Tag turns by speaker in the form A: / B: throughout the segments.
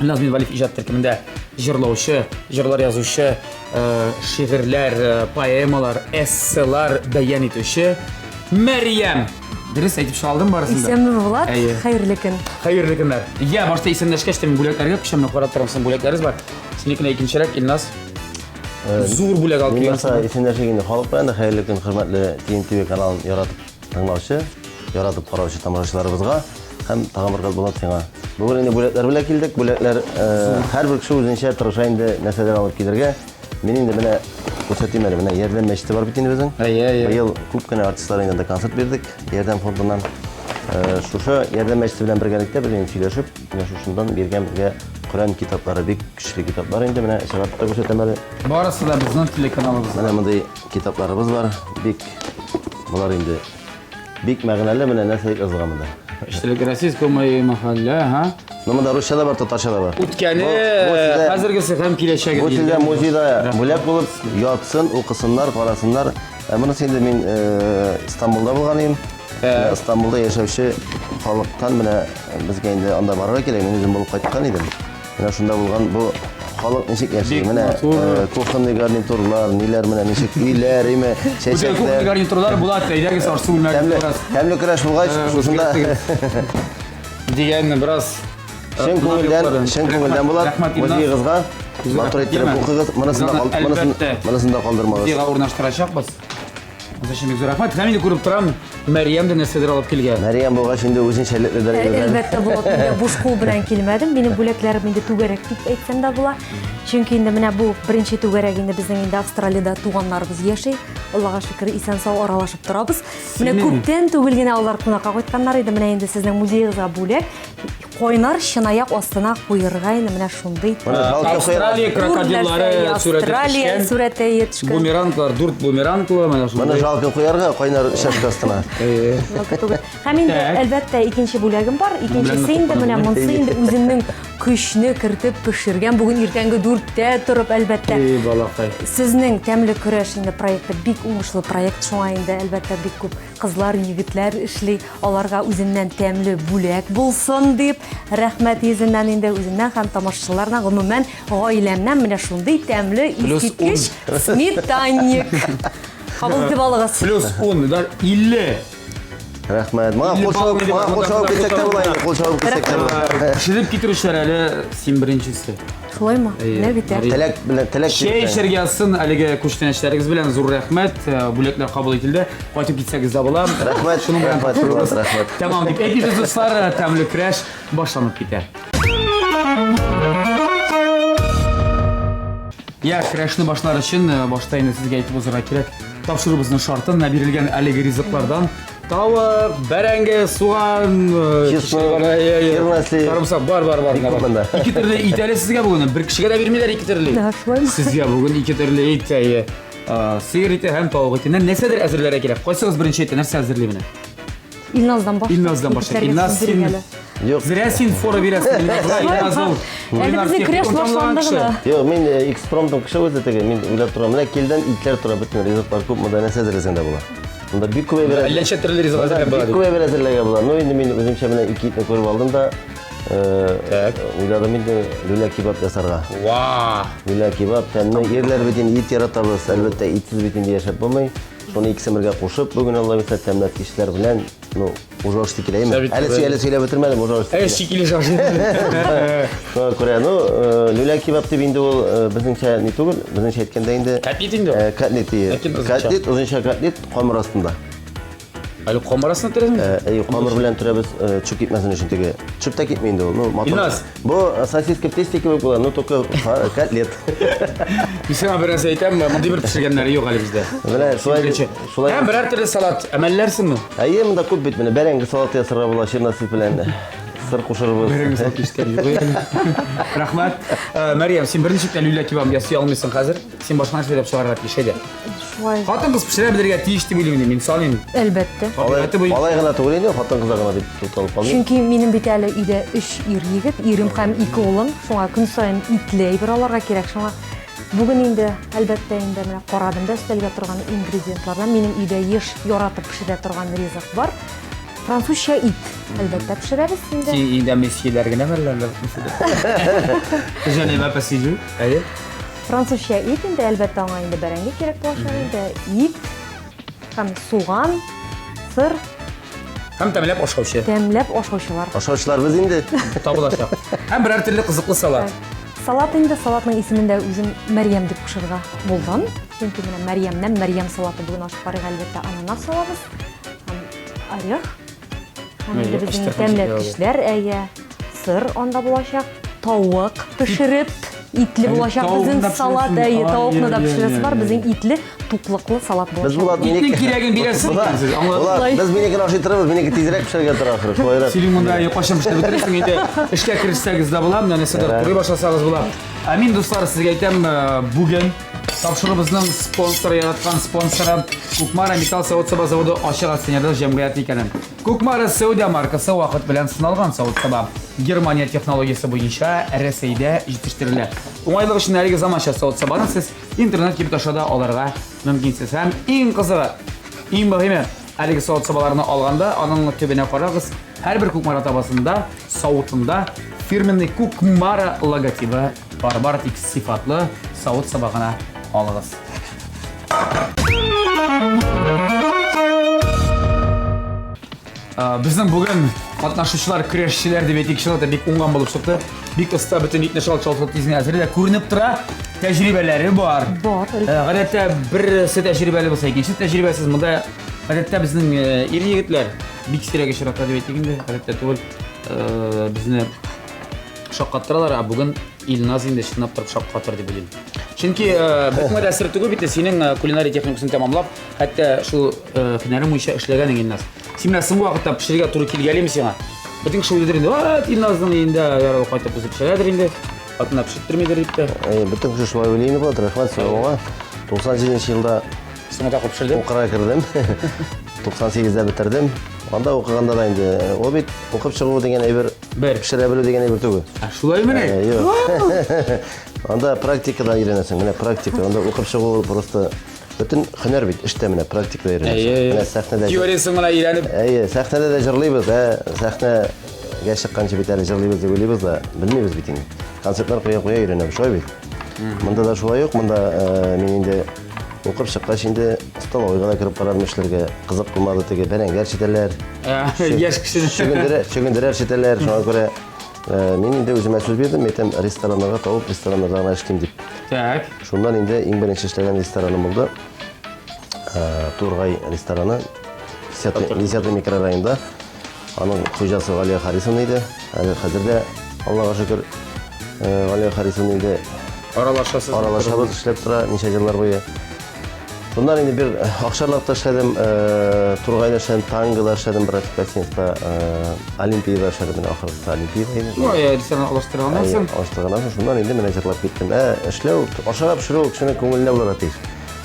A: Назмин Валиф иҗат төркемендә җырлаучы, җырлар язучы, э, шигырьләр, э, поэмалар, эсселар бәян итүче Мәрьям. Дөрес әйтеп чыгалдым барысын да. Исәнме Влад, Әйе.
B: хәерле көн. Хәерле көннәр.
A: Я, башта исәнләшкәч тә мин бүләкләргә күчәм, карап торам, син бүләкләребез бар. Синекенә икенчерәк Илназ. Э, Зур бүләк алып Мин килгән. башта исәнләшә инде
C: халык белән дә хәерле көн, хөрмәтле TNTV каналын яратып Тыңлаучы, яратып караучы тамашачыларыбызга һәм тагын бер кат Булат сиңа. Бүген инде бүләкләр белән килдек. Бүләкләр һәрбер кеше үзенчә тырыша инде нәрсәдер алып килергә. Мин инде менә күрсәтим әле. Менә Ярдәм мәчете бар бит инде безнең. Әйе, әйе. Быел күп кенә артистлар инде анда концерт бирдек Ярдәм фондыннан. Шушы Ярдәм мәчете белән бергәлектә без инде сөйләшеп, менә шушыннан биргән безгә Коръән китаплары, бик көчле китаплар инде. Менә чыгартып та күрсәтәм әле. Барысы да безнең
A: телеканалыбызда. Менә мондый
C: Китапларыбыз бар, бик болар инде бик мәгънәле менә нәрсә язылган монда. Эчтәлек российское
A: мое мәхәллә, ха? Ну монда русча да бар,
C: татарча да бар. Үткәне,
A: хәзергесе һәм киләчәге. Бу сездә музейда
C: бүләк булып ятсын, укысыннар, карасыннар. Ә монысы инде мин э, Стамбулда булган идем. Ә. Стамбулда яшәүче халыктан менә безгә инде анда барырга кирәк, мин үзем булып кайткан идем. Менә шунда булган бу халык ничек яши? Менә э, кухонный гарнитурлар, ниләр менә ничек өйләр, име, чәчәкләр. Кухонный
A: гарнитурлар булат, әйдәгез арсы бүлмәгә бераз. Тәмле көрәш булгач,
C: э, шушында дигәнне
A: бераз э, чын күңелдән,
C: чын күңелдән булат. Музеегызга матур иттереп укыгыз. Монысын да калдырмагыз. Музейга урнаштырачакбыз.
A: Анда шундый зур рәхмәт. Һәм инде күреп торам, Мәриям дә нәрсәдер алып килгән. Мәриям булгач инде үзен
C: шәллекле дәрә йөргән. Әлбәттә, Булат, инде
B: буш кул белән килмәдем. Минем бүләкләрем инде түгәрәк дип әйтсәм дә була. Чөнки инде менә бу беренче түгәрәк инде безнең инде Австралиядә туганнарыбыз яши. Аллага шөкер, исән-сау аралашып торабыз. Менә күптән түгел генә алар кунакка кайтканнар иде. Менә инде сезнең музеегызга бүләк. Кайнар чынаяк астына куерга инде менә шундый. Австралия крокодиллары
A: Австралия
B: сүрәте җитешкән. Бумеранглар, дүрт
A: бумеранглы менә шундый. Моны жалко куярга
C: кайнар чәшкә астына.
B: Һәм инде әлбәттә икенче бүләгем бар. Икенчесе инде менә монсы инде үземнең көчне кертеп пешергән. Бүген иртәнге дүрттә торып әлбәттә. И балакай. Сезнең тәмле көрәш инде проекты бик уңышлы проект шуңа инде әлбәттә бик күп Кызлар, егетләр эшли, аларга үземнән тәмле бүләк булсын дип, рәхмәт йөзеннән инде үземнән һәм тамашачылардан, гомумән, гаиләмнән менә шундый тәмле искиткеч сметанник. Кабул итеп алыгыз. Плюс 10, да
A: 50. Рәхмәт.
C: Моңа кул чабып, моңа кул чабып китсәк тә була инде, кул чабып китсәк тә була. Пешереп китерүчеләр әле
A: син беренчесе. Шулай ма? Әйе.
B: Менә бит. Мари- Теләк белән теләк. Чәй теләк.
C: эчәргә язсын
A: әлеге күчтәнәчләрегез белән зур рәхмәт. Э, Бүләкләр кабул ителде. Кайтып китсәгез дә була. Рәхмәт, Шуның белән рәхмәт,
C: катнашырбыз.
A: Фурат, рәхмәт. Тәмам
C: дип әйтегез,
A: дуслар, э, тәмле көрәш башланып китә. Я көрәшне башлар өчен э, башта инде сезгә әйтеп узарга кирәк. Тапшыруыбызның шартын менә бирелгән әлеге ризыклардан Тавык, бәрәңге, суган, сарымсак бар, бар, бар. Ике төрле ит әле сезгә бүген. Бер кешегә дә бирмиләр ике төрле. Сезгә бүген ике төрле ит әйе. Сыер ите һәм тавык итеннән нәрсәдер әзерләргә кирәк. Кайсыгыз беренче итә, нәрсә әзерли менә?
B: Илназдан башлап. Илназдан башлап.
A: Илназ син Юк. Зря
C: син фора
A: бирәсең. Илназ ул. Әле безнең креш
B: башланды гына. Юк, мин
C: экспромтом кеше үзе теге. Мин уйлап торам. Менә килдән итләр тора бөтен ризыклар күп монда нәрсә әзерләсәң дә була. Монда бик күп әйбер. Әллә ничә төрле ризык әзерләп
A: була. Бик күп әйбер әзерләргә була. Ну
C: инде мин үземчә менә ике итне күреп алдым да, Так. Уйладым инде люля кебаб ясарга. Ва!
A: Люля кебаб
C: тәмле. Ирләр бит инде ит яратабыз. Әлбәттә, итсез бит инде яшәп булмый. Шуны икесен бергә кушып, бүген Алла бирса тәмләткечләр белән, ну, Ужаш текилә, именно. Әле сәбит- әле сөйләп бетермәдем, ужаш Ә, текилә. шикили шашлык. Шуңа күрә, ну, э, люля кебаб дип инде ул э, безнеңчә не түгел, безнеңчә әйткәндә инде Котлет инде. э, котлет
A: дие. Ләкин озынча.
C: Котлет, озынча котлет камыр астында. Әле
A: камарасына терәсең? Э, Әй, камыр белән төрәбез
C: э, чүп китмәсен өчен теге. Чүп тә китми инде ул. Ну, матур. Илназ, Бу
A: сосиска
C: тести кебек була, но только котлет.
A: Мисема бераз әйтәм, мондый бер пешергәннәре юк әле бездә. Менә шулай
C: шулай. Һәм
A: берәр төрле салат
C: әмәлләрсеңме? Әйе, монда күп бит
A: менә
C: бәрәңге салаты
A: ясарга
C: була чернослив белән. Сыр кушырбыз. Бәрәңге салаты ишеткән юк.
A: Рәхмәт. Мәриям, син берничек тә люля кебаб ясый алмыйсың хәзер. Син башка нәрсә уйлап чыгарырга тиеш иде. Шулай. Хатын-кыз
B: пешерә белергә
A: тиеш дип уйлыйм мин, мисал инде. Әлбәттә. Алай, Табигате
B: буенча. алай гына
C: түгел инде, хатын-кызлар гына дип тукталып калдым. Чөнки минем бит әле
B: өйдә өч ир егет, ирем һәм ике улым. Шуңа көн саен итле әйбер алырга кирәк. Шуңа бүген инде, әлбәттә, инде менә карадым да өстәлгә торган ингредиентлардан. Минем өйдә еш яратып пешерә торган ризык бар. Французча ит, әлбәттә, пешерәбез инде. Син инде месьеләр
A: генә мәлләр. Женева посижу. Әйе. Французча
B: ит инде, әлбәттә, аңа инде бәрәңге кирәк булачак инде. Ит һәм суган, сыр. Һәм
A: тәмләп ашаучы. Тәмләп ашаучылар.
B: Ашаучыларбыз инде.
C: Табылачак.
A: Һәм берәр төрле кызыклы салат. Салат инде,
B: салатның исемен дә үзем Мәрьям дип кушырга булдым. Чөнки менә Мәрьямнән Мәрьям салаты бүген ашап карыйк, әлбәттә, ананас салабыз һәм орех. Һәм инде безнең тәмле кешеләр, әйе, сыр анда булачак, тавык пешереп, итле булачак безнең салат, әйе, тавыкны да пешерәсе бар, безнең итле, туклыклы салат булачак. Без булат минеке. Итнең
C: кирәген
B: бирәсез
A: икән сез. Булат, без
C: минекене ашый торабыз, минеке тизрәк пешәргә тора ахры. Шулайрак. Синең монда кайчан пешереп
A: бетерәсең инде? Эшкә керешсәгез дә була, менә нәрсәдер турый башласагыз була. Амин, дуслар, сезгә әйтәм, э, бүген Тапшырубызның спонсоры яраткан спонсоры Кукмара металл савыт саба заводы ачык акционерлы җәмгыяте икәнен. Кукмара Сәүдә маркасы вакыт белән сыналган савыт саба. Германия технологиясе буенча Рәсәйдә җитештерелә. Уңайлык өчен әлеге заманча савыт сабаны сез интернет килеп аша да алырга мөмкинсез. Һәм иң кызыгы, иң мөһиме, әлеге савыт сабаларны алганда аның төбенә карагыз, һәрбер Кукмара табасында, савытында фирменный Кукмара логотибы Барбар тик сыйфатлы савыт сабагына алыгыз. Безнең бүген катнашучылар көрәшчеләр дип әйтик, чынлыкта бик уңган булып чыкты. Бик оста бөтен итне шалт-шалт тизенә әзерлә. Күренеп тора, тәҗрибәләре бар. Бар. Гадәттә берсе тәҗрибәле булса, икенчесе тәҗрибәсез. Монда гадәттә безнең ир-егетләр бик сирәк очрата дип әйтик инде. Гадәттә түгел. Безне шаккаттыралар, ә бүген Илназ инде чынлап торып шаккатыр дип уйлыйм. Чөнки э, бөтен генә сер түгел бит, синең э, кулинария техникасын тәмамлап, хәтта шул э, һөнәрең буенча эшләгәнең Илназ. Син менә соңгы вакытта пешерергә туры килгәлиме сиңа? Бөтен кеше уйлыйдыр инде, «Ват, Илназның өендә яралы кайтып үзе пешерәдер инде, хатынына пешерттермидер» дип тә. Э, Бөтен кеше шулай уйлый
C: инде булат, рәхмәт сиңа моңа. 97 нче елда Соңгы тапкыр пешердем.
A: укырга кердем.
C: 98-дә бетердем. Анда укыганда да инде, э, ул бит укып чыгу дигән әйбер Бер. Пешерә белү дигән әйбер түгел. Ә шулай менә. Ә, юк.
A: Анда
C: практикада өйрәнәсең. Менә практика. Анда укып чыгу просто бөтен һөнәр бит. Эштә менә практикада өйрәнәсең. Менә сәхнәдә. Теориясен генә өйрәнеп.
A: Әйе, сәхнәдә дә
C: җырлыйбыз, ә сәхнәгә чыкканчы бит әле җырлыйбыз дип уйлыйбыз да, белмибез бит инде. Концертлар куя-куя өйрәнәбез, шулай бит. Монда да шулай ук, монда э, мин инде Укып чыккач инде столовыйга да кереп карадым эшләргә. Кызык булмады теге бәрәңгәр читәләр. Яшь
A: кешене. Чөгендерә, чөгендерә
C: читәләр. Шуңа күрә э, мин инде үземә сүз бирдем, әйтәм, рестораннарга табып, рестораннарда гына эшлим дип. Так. Шуннан
A: инде иң
C: беренче эшләгән рестораным булды. Э, Тургай рестораны. 10 микрорайонда. Аның хуҗасы Галия Харисовна иде. Әле хәзер дә, Аллага шөкер, Галия Харисовна инде аралашасыз. Аралашабыз, эшләп тора ничә еллар буе. Шуннан инде бер акчарлакта эшләдем, Тургайда эшләдем, Тангыда эшләдем, бер Пятницда, Олимпиада эшләдем, менә ахыргысы Олимпиада иде. Ну, я сен алыштырганнан
A: соң. Алыштырганнан соң шуннан инде
C: менә җырлап киттем. Ә эшләү, ашарга пешерү кешенең күңеленә булырга тиеш.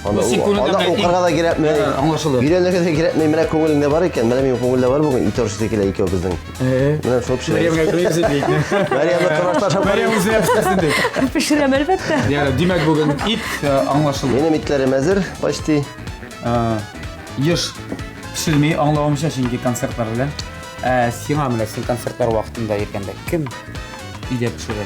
C: Аны Син күрүгә аны мөмкин. укырга да кирәкми. Ә, аңлашылды. Өйрәнергә
A: дә кирәкми. Менә
C: күңелеңдә бар икән, менә минем күңелдә бар бүген ит оршысы килә икәү безнең. Менә шул пешерәбез. Мәриямгә күрәсең бит. Мәриямне тормышташ алып Мәриям барыйк. үзенә пешерсен ди.
A: Пешерәм, әлбәттә.
B: Диярлек, димәк бүген
A: ит э, аңлашылды. Минем итләрем әзер,
C: почти. Э,
A: Еш пешерми аңлавымча, чөнки концертлар белән. Ә сиңа менә син концертлар вакытында йөргәндә кем өйдә пешерә?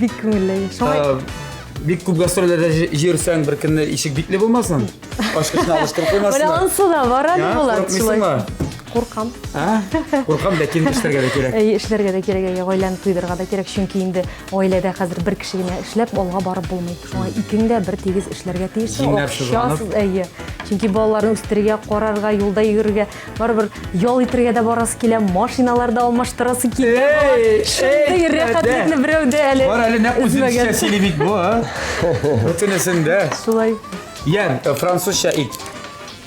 A: Бик күңелле.
B: Шулай. Бик күп
A: гастрольләрдә җөрсәң, бер көнне ишек бикле булмасын. Ачкычны
B: алыштырып
A: куймасыннар.
B: Менә
A: ансы
B: да бар әле
A: Булат
B: шулай. Куркам. А?
A: Куркам, ләкин эшләргә дә кирәк. Әй, эшләргә дә кирәк, әй,
B: гаиләне туйдырырга да кирәк, чөнки инде гаиләдә хәзер бер кеше генә эшләп алга барып булмый. Шуңа икең дә бер тигез эшләргә тиеш. Җиңнәр сызганып.
A: Чөнки балаларны
B: үстерергә, карарга, юлда йөрергә Барыбер ял итергә дә барасы килә, машиналар да алмаштырасы килә. Эй, Шундый эй, рәхәтлекне дә. берәү дә әле. Бар әле нәкъ үзебезчә эзләгән.
A: сөйли бит бу. а. Бөтенесен дә. Шулай.
B: Ян, э,
A: французча ит.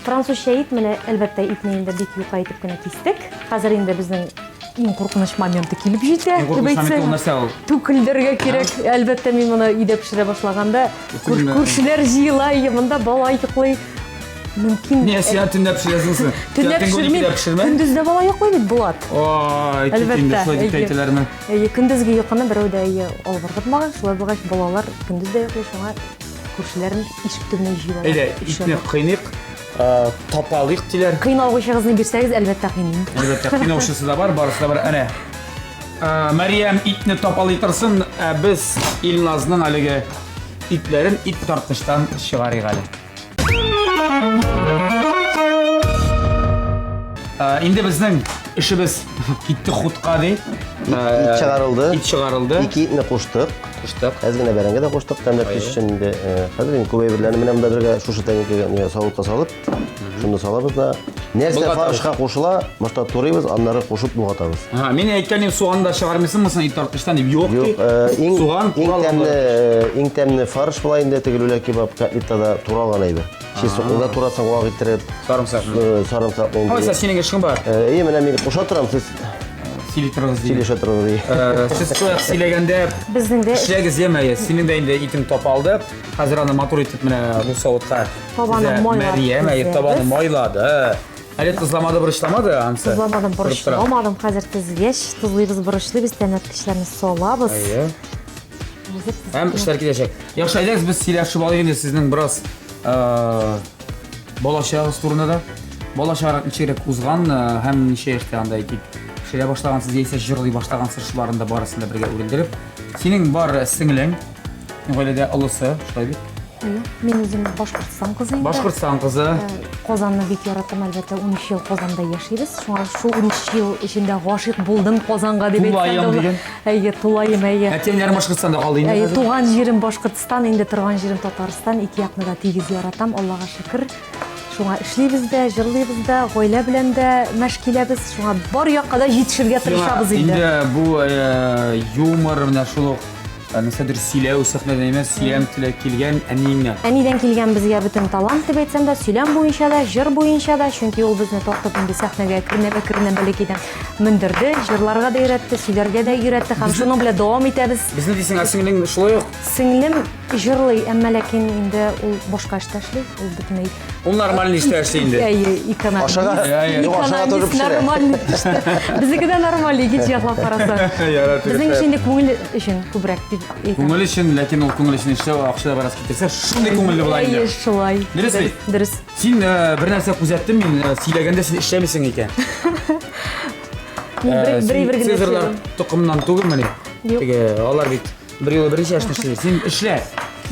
A: Французча
B: ит, менә әлбәттә итне инде бик юка итеп кенә кистек. Хәзер инде безнең Иң куркыныч моменты килеп җитә, Иң куркыныч моменты ул нәрсә
A: ул? Түкелдергә кирәк.
B: Әлбәттә, мин моны өйдә пешерә башлаганда, күршеләр җыела, и, монда бала йоклый. Мөмкин. Не, сиан төнләп
A: пешерәсеңме? Төнләп
B: пешермим. Көндез дә бала йоклый бит, Булат. Ой, китенде,
A: шулай дип әйтәләрме? Әйе, көндезге йокыны
B: берәү дә әйе алгыргытмаган, шулай булгач, балалар көндез дә йоклый, шуңа күршеләрнең ишек төбенә җыела. Әйдә, итне кыйныйк.
A: Э, тапалыйк диләр. Кыйналгычыгызны бирсәгез,
B: әлбәттә кыйныйм. Әлбәттә, кыйнаучысы да
A: бар, барысы да бар. Әнә. Э, Мәриям итне тапалый торсын, ә э, без Илназның әлеге итләрен ит тартыштан чыгарыйк әле. Инде безнең эшебез китте хутка ди. Ит чыгарылды.
C: Ит чыгарылды. Ике
A: итне куштык.
C: Куштык. Әз генә
A: бәрәңге дә куштык,
C: тәмләп төш өчен инде. Хәзер инде күп әйберләрне менә монда бергә шушы тәңкәгә савытка салып, шуны салабыз да. Нәрсә фаршка кушыла, башта турыйбыз, аннары кушып болгатабыз. Ага, мин әйткән идем,
A: суган да чыгармыйсыңмы соң ит арткычтан дип. Юк ди. Суган, иң тәмле,
C: иң тәмле фарш була инде тегелүлә кебаб, котлетта да туралган әйбер. Чи сукны да турасың вак иттереп. Сарымсак. Э, сарымсак ул. Кайсы синең эшең бар?
A: Э, әйе, менә мин куша
C: торам, сез сөйли торыгыз
A: ди. Сөйләшә торыгыз ди. Э,
C: сез сояк сөйләгәндә
A: безнең дә эшләгез
B: яме, синең дә
A: инде итең тап алды. Хәзер аны матур итеп менә бу савытка. Табаны майлады.
B: Мәриям, әйе, табаны
A: майлады. Әле тозламады, борычламады, ансы? Тозламадым, борычламадым.
B: Хәзер тезгәч, тозлыйбыз, борычлыйбыз, тәмләткечләрне салабыз. Әйе.
A: Һәм эшләр киләчәк. Яхшы, әйдәгез без сөйләшеп алыйк инде сезнең бераз э, балачагыгыз турында да. Балачагыгыз ничегрәк узган э, һәм ничә яшьтә анда әйтик пешерә башлагансыз яисә җырлый башлагансыз шуларын да барысын да бергә үрелдереп. Синең бар сеңлең, гаиләдә олысы, шулай бит? Әйе, мин үзем
B: Башкортстан кызы инде. Башкортстан кызы. Э,
A: Казанны бик
B: яратам, әлбәттә, 13 ел Казанда яшибез. Шуңа шул 13 ел эчендә гашыйк булдым Казанга дип әйткәндә. Әйе, тулаем, әйе. Әтием яр Башкортстанда
A: калды инде. Әйе, туган җирем Башкортстан,
B: инде торган җирем Татарстан. Ике якны да тигез яратам, Аллага шөкер. Шуңа эшлибез дә, җырлыйбыз да, гаилә белән дә мәш киләбез. Шуңа бар якка да җитешергә тырышабыз инде. Инде бу э,
A: юмор менә шул ук э, нәрсәдер сөйләү сәхнәдән эмас, сөйләм теләк килгән әниеңнән. Әнидән килгән безгә
B: бөтен талант дип әйтсәм дә, сөйләм буенча да, җыр буенча да, чөнки ул безне тартып инде сәхнәгә әкренләп-әкренләп бәләкәйдән мөндерде, җырларга да өйрәтте, сөйләргә дә өйрәтте һәм шуның белән дәвам итәбез. Безне дисең, ә сеңлең
A: шулай ук? Сеңлем
B: җырлый, әмма ләкин инде ул башка эштә эшли, ул бөтенләй. Ул нормаль эштә
A: эшли инде. Әйе, экономист. Ашага,
B: ашага
C: торып пешерә. Нормаль эштә.
B: Безнеке дә нормаль, икенче яклап караса. Безнең эш инде күңел өчен күбрәк дип әйтәм. Күңел өчен, ләкин ул
A: күңел өчен эшләү акча бераз китерсә, шундый күңелле була инде. Әйе, шулай. Дөрес бит?
B: Дөрес.
A: Син
B: бер
A: нәрсә күзәттем мин, сөйләгәндә син эшләмисең икән.
B: Мин бер бер генә Сезерлар
A: токымнан түгелмени? Теге алар бит бер юлы беренче яшьтә эшли. Син эшлә.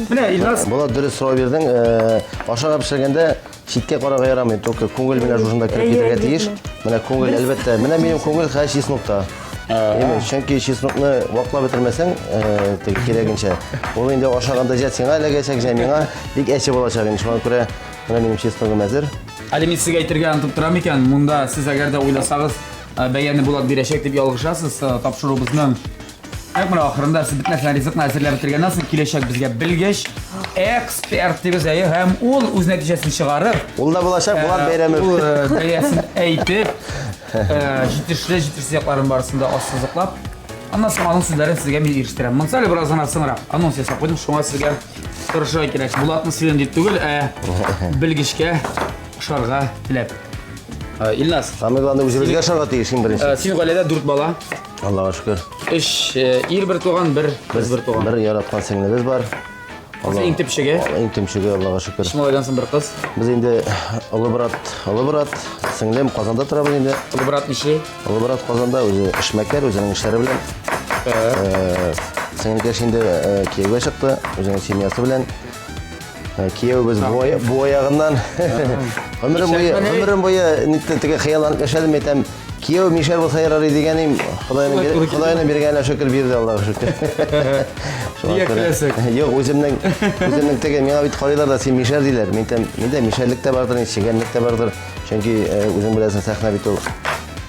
A: Менә Илназ. Булат дөрес сорау бирдең.
C: Э, ашыгып пешергәндә читкә карарга ярамый. Только күңел менә шушында кереп китәргә тиеш. Менә күңел әлбәттә. Менә минем күңел хәзер чиснукта. Әйе, чөнки чеснокны ваклап бетермәсәң, э, теге кирәгенчә, ул инде ашаганда җә сиңа эләгәчәк, җә миңа бик әче булачак инде. Шуңа күрә менә минем чесногым әзер. Әле мин сезгә әйтергә
A: онытып торам икән, монда сез әгәр дә уйласагыз, э, бәяне Булат бирәчәк дип ялгышасыз. Э, Тапшыруыбызның Әк менә ахырында сез бетмәсен ризыкны әзерләп бетергәннән соң киләчәк безгә белгеч, эксперт дигез әйе, һәм ул үз нәтиҗәсен чыгарып, Ул да булачак, Булат
C: э, бәйрәме. ул э, бәясен
A: әйтеп, Җитешле, җитешсез якларын барысын да ассызыклап, аннан соң аның сүзләрен сезгә мин ирештерәм. Монсы әле бераз гына соңрак анонс ясап куйдым, шуңа сезгә тырышырга кирәк. Булатны сөйләм дип түгел, ә белгечкә ошарга теләп. Ә, Илназ, Самый главный үзебезгә
C: ошарга тиеш иң беренче. ә, синең гаиләдә дүрт бала,
A: Аллага шөкер.
C: өч э,
A: ир бер туган, бер кыз бер туган. Бер яраткан сеңлебез
C: бар. Кыз иң
A: төпчеге. Иң төпчеге, Аллага
C: шөкер. Өч малайдан соң бер кыз.
A: Без инде
C: олы брат, олы брат, сеңлем Казанда тора без инде. Олы брат ничи?
A: Олы брат Казанда
C: үзе эшмәкәр, үзенең эшләре белән. Э, Сеңелкәш инде э, кияүгә чыкты, үзенең семьясы белән. Э, Кияүбез бу аягыннан. Гомерем буе, гомерем буе нитте теге хыялланып яшәдем, әйтәм. Кияү мишәр булса ярар дигәнем, Ходайның биргәненә шөкер бирде Аллага шөкер. Нигә
A: көләсең? Юк, үземнең
C: үземнең теге миңа бит карыйлар да син мишәр диләр. Мин тәм, миндә мишәрлек тә бардыр, чигәнлек тә бардыр. Чөнки э, үзең беләсең сәхнә бит ул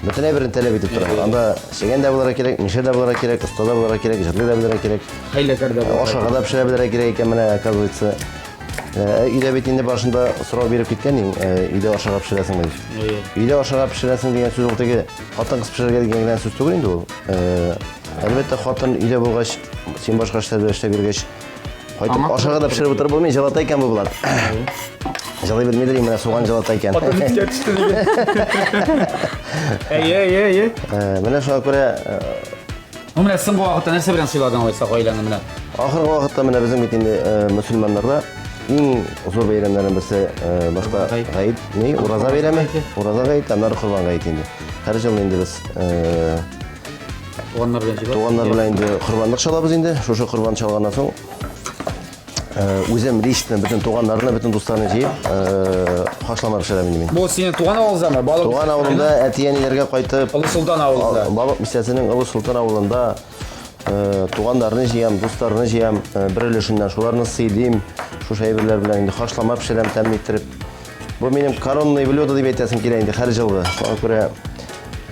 C: бөтенләй берен таләп итеп тора. Анда чигән дә булырга кирәк, мишәр дә булырга кирәк, оста да булырга кирәк, җырлый да белергә кирәк. Хәйләкәр дә булырга. Ашарга
A: да пешерә белергә кирәк
C: икән менә, оказывается. Э, өйдә бит инде башында сорау биреп киткән идең, э, өйдә ашарга пешерәсең дип. Өйдә ашарга пешерәсең дигән сүз ул теге хатын-кыз пешерергә дигән генә сүз түгел инде ул. Э, әлбәттә, хатын өйдә булгач, син башка эшләр белән эшләп йөргәч, кайтып ашарга да пешереп утырып булмый, җылата икән бу булат. Җылый белмидер инде, менә суган җылата икән.
A: Хатын искә төште диген. Әйе, әйе,
C: әйе. Менә шуңа күрә Ну,
A: менә соңгы вакытта нәрсә белән сыйладың алайса гаиләңне менә? Ахыргы вакытта менә
C: безнең бит инде э, мөселманнарда иң зур бәйрәмнәрнең берсе э, башта Ураза гаете. гаит, ни, ураза бәйрәме, гаете. ураза гаете, аннары корбан гаете инде. Һәр ел инде без э, Туганнар белән җибәрдең. туганнар белән инде корбанлык чалабыз инде. Шушы корбан чалганнан соң Үзем лично бөтен туганнарны, бөтен дусларны җыеп, хашлама пешерәм инде мин. Бу синең туган авылыңдамы?
A: Балык. Туган авылымда
C: әти-әниләргә кайтып. Олы Солтан авылында.
A: Балык бистәсенең Олы
C: Солтан авылында туганнарны җыям, дусларны җыям, бер өлешеннән шуларны сыйлыйм. Шушы әйберләр белән инде хашлама пешерәм, тәмле иттереп. Бу минем коронный блюдо дип әйтәсем килә инде һәр җылы. Шуңа күрә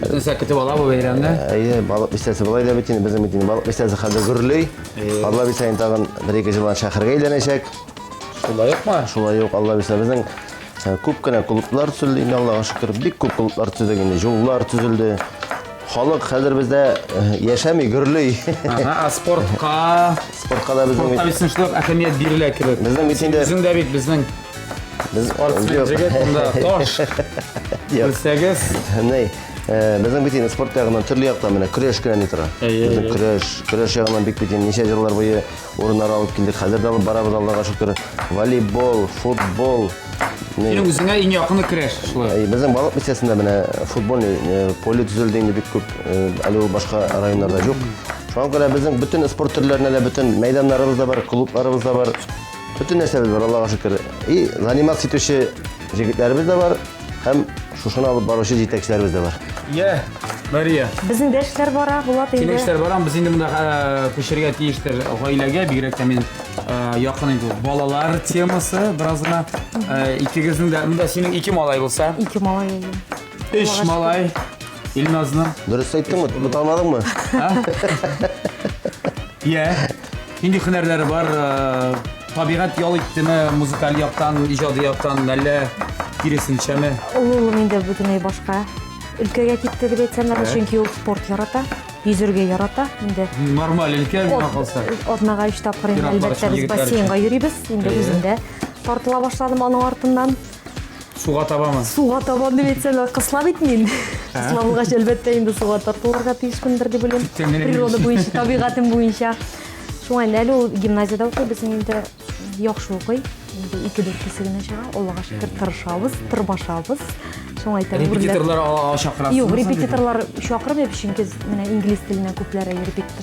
C: Бөтенсә
A: көтеп ала бу бәйрәмне. Әйе, балык бистәсе
C: болай да бит инде безнең бит инде балык бистәсе хәзер гөрлей. Алла бирса инде тагын бер ике җылдан шәһәргә әйләнәчәк. Шулай ук
A: ма? Шулай ук Алла бирса
C: безнең э, күп кенә клублар төзелде инде Аллага шөкер. Бик күп клублар төзелде инде, юллар төзелде. Халык хәзер бездә э, яшәми, гөрлей. Ага, а
A: спортка Спортка да
C: безнең спортка бит бит шулай әһәмият
A: бирелә кебек. Безнең бит инде- Үзең дә бит безнең Без спортсмен җегет, монда таш. Белсәгез. Ни,
C: э, безнең бит инде спорт ягыннан төрле яктан менә көрәш кенә ни тора. Безнең көрәш, көрәш ягыннан бик бит ничә еллар буе урыннар алып килдек. Хәзер дә алып барабыз Аллага шөкер. Волейбол, футбол, Синең
A: үзеңә иң якыны керәш шулай. Э, безнең балык бистәсендә
C: менә э, футбольный э, поле төзелде инде бик күп. Әле ул башка районнарда юк. Шуңа күрә безнең бөтен спорт төрләренә дә бөтен мәйданнарыбыз да бар, клубларыбыз да бар. Бөтен нәрсәбез бар, Аллага шөкер. И заниматься итүче җегетләребез дә бар, һәм шушыны алып баручы җитәкчеләребез дә бар. Йә, Мария.
A: Безнең дә эшләр
B: бара, Булат инде. Синең эшләр барам, без инде
A: монда
B: э,
A: күчергә тиештер гаиләгә, бигрәк тә мин э, якын инде балалар темасы бераз гына. Э, Икегезнең дә, монда синең ике малай булса. Ике малай.
B: Эш малай.
A: Илназны. Дөрес әйттең бит,
C: бу танымадыңмы?
A: Йә. Нинди хөнәрләре бар? Табигать ял иттеме, музыкаль яктан, иҗади яктан, әллә киресенчәме? Ул улым инде бөтенләй
B: башка өлкәгә китте дип әйтсәм, чөнки ул спорт ярата йөзергә ярата инде. Нормаль өлкә
A: миңа калса. Атнага 3 тапкыр
B: инде әлбәттә без бассейнга йөрибез. Инде үзем дә тартыла башладым аның артыннан. Суга
A: табамы? Суга табам дип әйтсәң,
B: кысла бит мин. Кысла булгач, әлбәттә, инде суга тартылырга тиешмендер дип уйлыйм. Природа буенча, табигатем буенча. Шуңа әле ул гимназиядә укый, безнең инде яхшы укый. Инде ике дүртесе генә чыга. Аллага шөкер, тырышабыз, тырбашабыз. Шуңа әйтәм, репетиторлар
A: чакырасыз. Юк, репетиторлар
B: чакырмыйм, чөнки менә инглиз теленә күпләре репетитор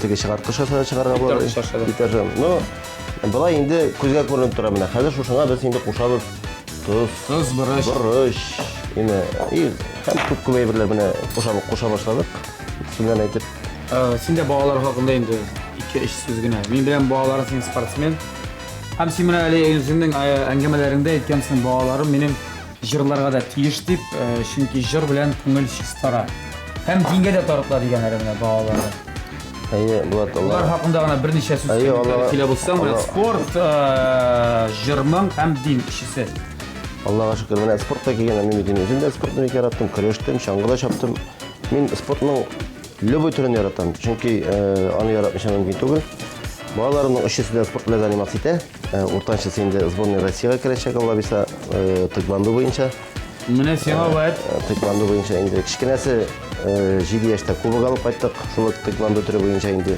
C: Теге чыгарткыш аша да чыгарырга була. Битәр кыш аша да. Битәр җан. Ну, болай инде күзгә күренеп тора менә. Хәзер шушыңа без инде кушабыз тоз, Тоз,
A: борыч. борыч, ине и
C: һәм күп күп әйберләр менә куша куша башладык. Сүннән әйтеп. Ә, Син дә балалар
A: хакында инде ике-өч сүз генә. Мин белән балаларым синең спортсмен. Һәм син менә әле үзеңнең ә, әңгәмәләреңдә әйткәнсең, балаларым минем Җырларга да тиеш дип, чөнки җыр белән күңел чистара. Һәм дингә дә тарытыла дигән әле менә балалары. Әйе, Булат, Аллаһ. Алар хакында гына берничә сүз сөйләп булса, менә спорт, җырның һәм дин кешесе. Аллага
C: шөкер, менә спортка килгән әни мин үзем дә спортны бик яраттым, көрәштем, чаңгыда чаптым. Мин спортның любой төрен яратам, чөнки аны яратмыйча мөмкин түгел. Балаларымның өчесе дә спорт белән заниматься итә. Э, уртанчысы инде сборная россияга керәчәк алла бирса э, тэквондо буенча менә сиңа
A: вәт э, тэквондо буенча
C: инде кечкенәсе җиде яшьтә кубок алып кайттык шул тэквондо төре буенча инде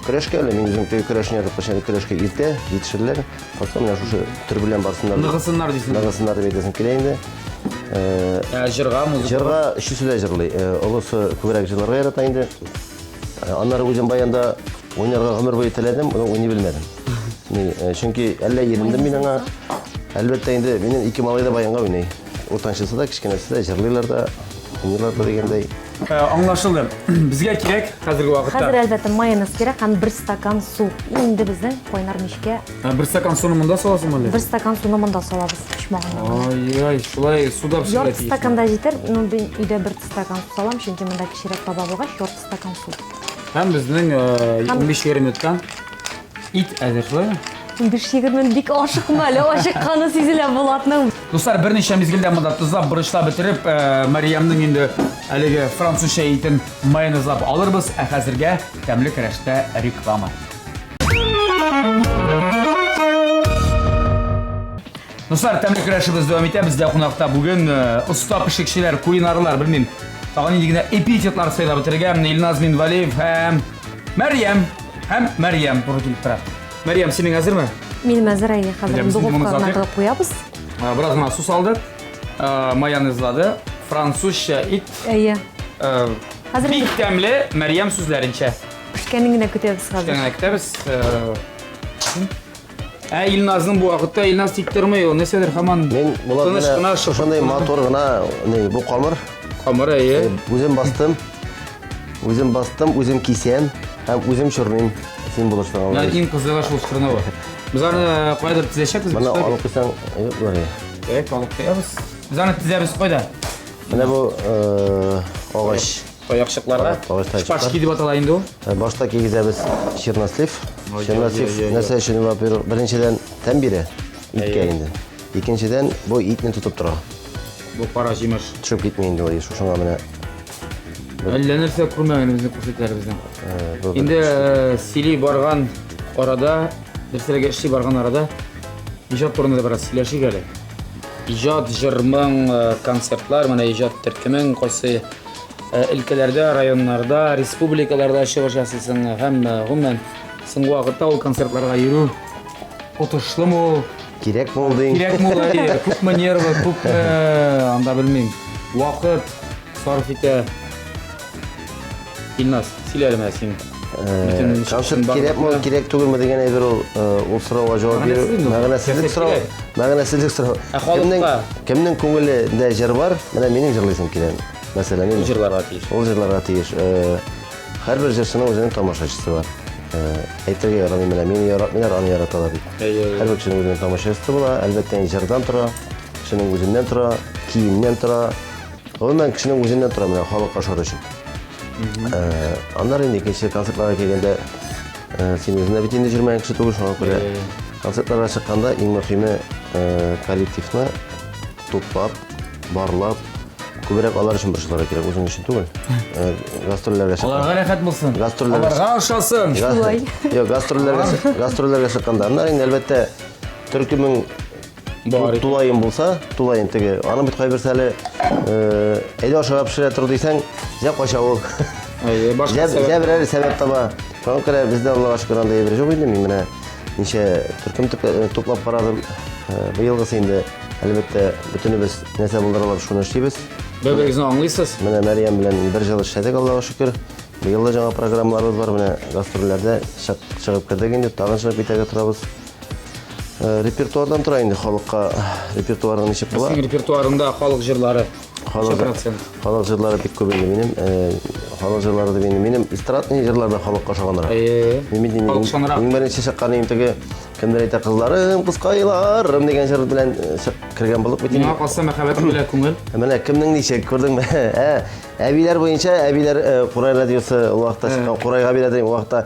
C: көрәшкә әле мин үзем теге көрәшне язып кышын көрәшкә иртә җитешерләр просто менә шушы төр белән барсыннар ныгысыннар дисең ныгысыннар
A: дип әйтәсем килә инде ә җырга музыка җырга өчесе дә
C: җырлый олысы күбрәк җырларга ярата инде аннары үзем баянда Уйнарга гомер буе теләдем, но уйный белмәдем. Ни, э, чөнки әллә ирендем мин аңа. Әлбәттә инде минем ике малай да баянга уйный. Уртанчысы да, кечкенәсе дә җырлыйлар да, уйныйлар да дигәндәй. Ә, Аңлашылды.
A: Безгә кирәк хәзерге вакытта. Хәзер әлбәттә майонез
B: кирәк һәм бер стакан су. Инде безнең кайнар мичкә Ә, Бер стакан суны
A: монда саласың әле? бер стакан суны монда
B: салабыз почмагына. Ай-яй, шулай
A: суда пешерә Ярты стакан да җитәр,
B: но мин өйдә бер стакан су салам, чөнки монда кечерәк баба булгач, ярты стакан су. Һәм
A: безнең 15-20 минуттан ит әзер, шулай ме? 15-20 минут
B: бик ашыкма әле, ашыкканы сизелә Булатның. Дуслар, берничә
A: мизгелдә монда тозлап, борычлап бетереп, Мариямның инде әлеге французча итен майонезлап алырбыз, ә хәзергә тәмле керәштә реклама. Дуслар, тәмле көрәшебез дәвам итә. Бездә кунакта бүген оста пешекчеләр, кулинарлар, белмим, тагын нинди генә эпитетлар сайлап бетерергә. Менә Илназ Минвалиев һәм Мәрьям һәм Мәрьям туры килеп тора. Мәрьям, синең әзерме? Мин әзер, әйе,
B: хәзер духовкага кадап куябыз. Бераз гына су
A: салды, майонезлады, французча ит. Әйе.
B: Хәзер
A: бик тәмле Мәрьям сүзләренчә. Пешкәнен генә
B: көтәбез хәзер. Пешкәнен генә көтәбез.
A: Ә Илназның бу вакытта Илназ тик тормый ул. Нәрсәдер хаман Мин болар тыныч кына менә
C: шып- шушындай матур гына не, бу камыр. камыры әйе.
A: Үзем бастым.
C: Үзем бастым, үзем кисәм һәм үзем чорныйм. Син Менә булышсаң. иң кызыгы шул чорнавы.
A: Без аны э, кайдыр тезәчәкбез. Моны без. алып куйсаң,
C: юк булыр. Так, алып куябыз.
A: Без аны тезәбез кайда? Менә бу
C: э, агач. Таякчыкларга.
A: Шпажки дип атала инде ул. Э, башта кигезәбез
C: чернослив. Чернослив нәрсә өчен, во-первых, беренчедән тәм бирә иткә инде. Икенчедән, бу итне тотып тора. Бу кара
A: җимеш. Төшеп китми инде ул,
C: шушыңа менә.
A: Әллә нәрсә күрмәгән безнең күрсәтләребездән. Э, инде э, сили барган арада, нәрсәләргә эшли барган арада иҗат турында да бераз сөйләшик әле. Иҗат, җырмың, концертлар, менә иҗат төркемең кайсы Э, өлкәләрдә, районнарда, республикаларда чыгыш ясыйсың һәм э, гомумән соңгы вакытта ул концертларга йөрү отышлымы ул? Кирәк
C: булды. Кирәк булды. Күпме
A: нервы, күпме э, анда белмим. Вакыт сарыф итә. Илназ, сөйләле менә син. концерт
C: кирәкме кирәк түгелме дигән әйбер ул ул сорауга җавап бирү мәгънәсезлек сорау мәгънәсезлек сорау кемнең кемнең күңелендә җыр бар менә минем җырлыйсым килә мәсәлән ул җырларга тиеш ул җырларга
A: тиеш
C: һәрбер җырчының үзенең тамашачысы бар әйтергә ярамый менә мине яратмыйлар аны яраталар дип һәрбер кешенең үзенең тамашачысы була әлбәттә инде җырдан тора кешенең үзеннән тора киемнән тора Гомумән, кешенең үзеннән тора менә халык ашар өчен. Ә, Аннары инде икенче концертларга килгәндә ә, син үзеңә бит инде җырмаган кеше түгел, шуңа күрә концертларга чыкканда иң мөһиме ә, коллективны туплап, барлап, күбрәк алар өчен борчылырга кирәк, үзең өчен түгел. Ә, Гастрольләргә чыкканда. Аларга рәхәт булсын.
A: Гастрольләргә- Аларга ошасын. Га- Шулай. Йо,
B: гастрольләргә
C: чык- гастрольләргә чыкканда. Аннары инде әлбәттә төркемең Бар. Тулаем булса, тулаем теге. Аны бит кайбер сәле э, әйдә ашыга пешерә тору дисәң, зә кача ул. Әйе, башка сәбәп. Зә берәр сәбәп таба. Соң керә бездә Аллага шөкер анда ебер җук инде мин менә. Ничә төркем э, туплап карадым. Э, Быелгысы инде әлбәттә бөтенебез нәрсә булдыралар шуны эшлибез. Бер-берегезне аңлыйсыз?
A: Менә Мәриям белән
C: бер җыл эшләдек Аллага шөкер. Быел да жаңа программаларыбыз бар, менә гастрольләрдә чыгып кердек инде, тагын чыгып китәргә торабыз. Э, репертуардан тора инде халыкка репертуарың ничек була синең репертуарыңда халык
A: җырлары халык процент
C: халык җырлары бик күп инде минем э, халык җырлары дип инде минем эстрадный җырлар да халыкка ошаганрак э, иң беренче чыккан иң теге кемдер әйтә кызларым кызкайларым деген җыр белән кергән булып бит миңа калса мәхәббәтем
A: белән күңел менә кемнең ничек
C: күрдеңме ә әбиләр буенча әбиләр курай радиосы ул вакытта чыккан курайга бирә ул вакытта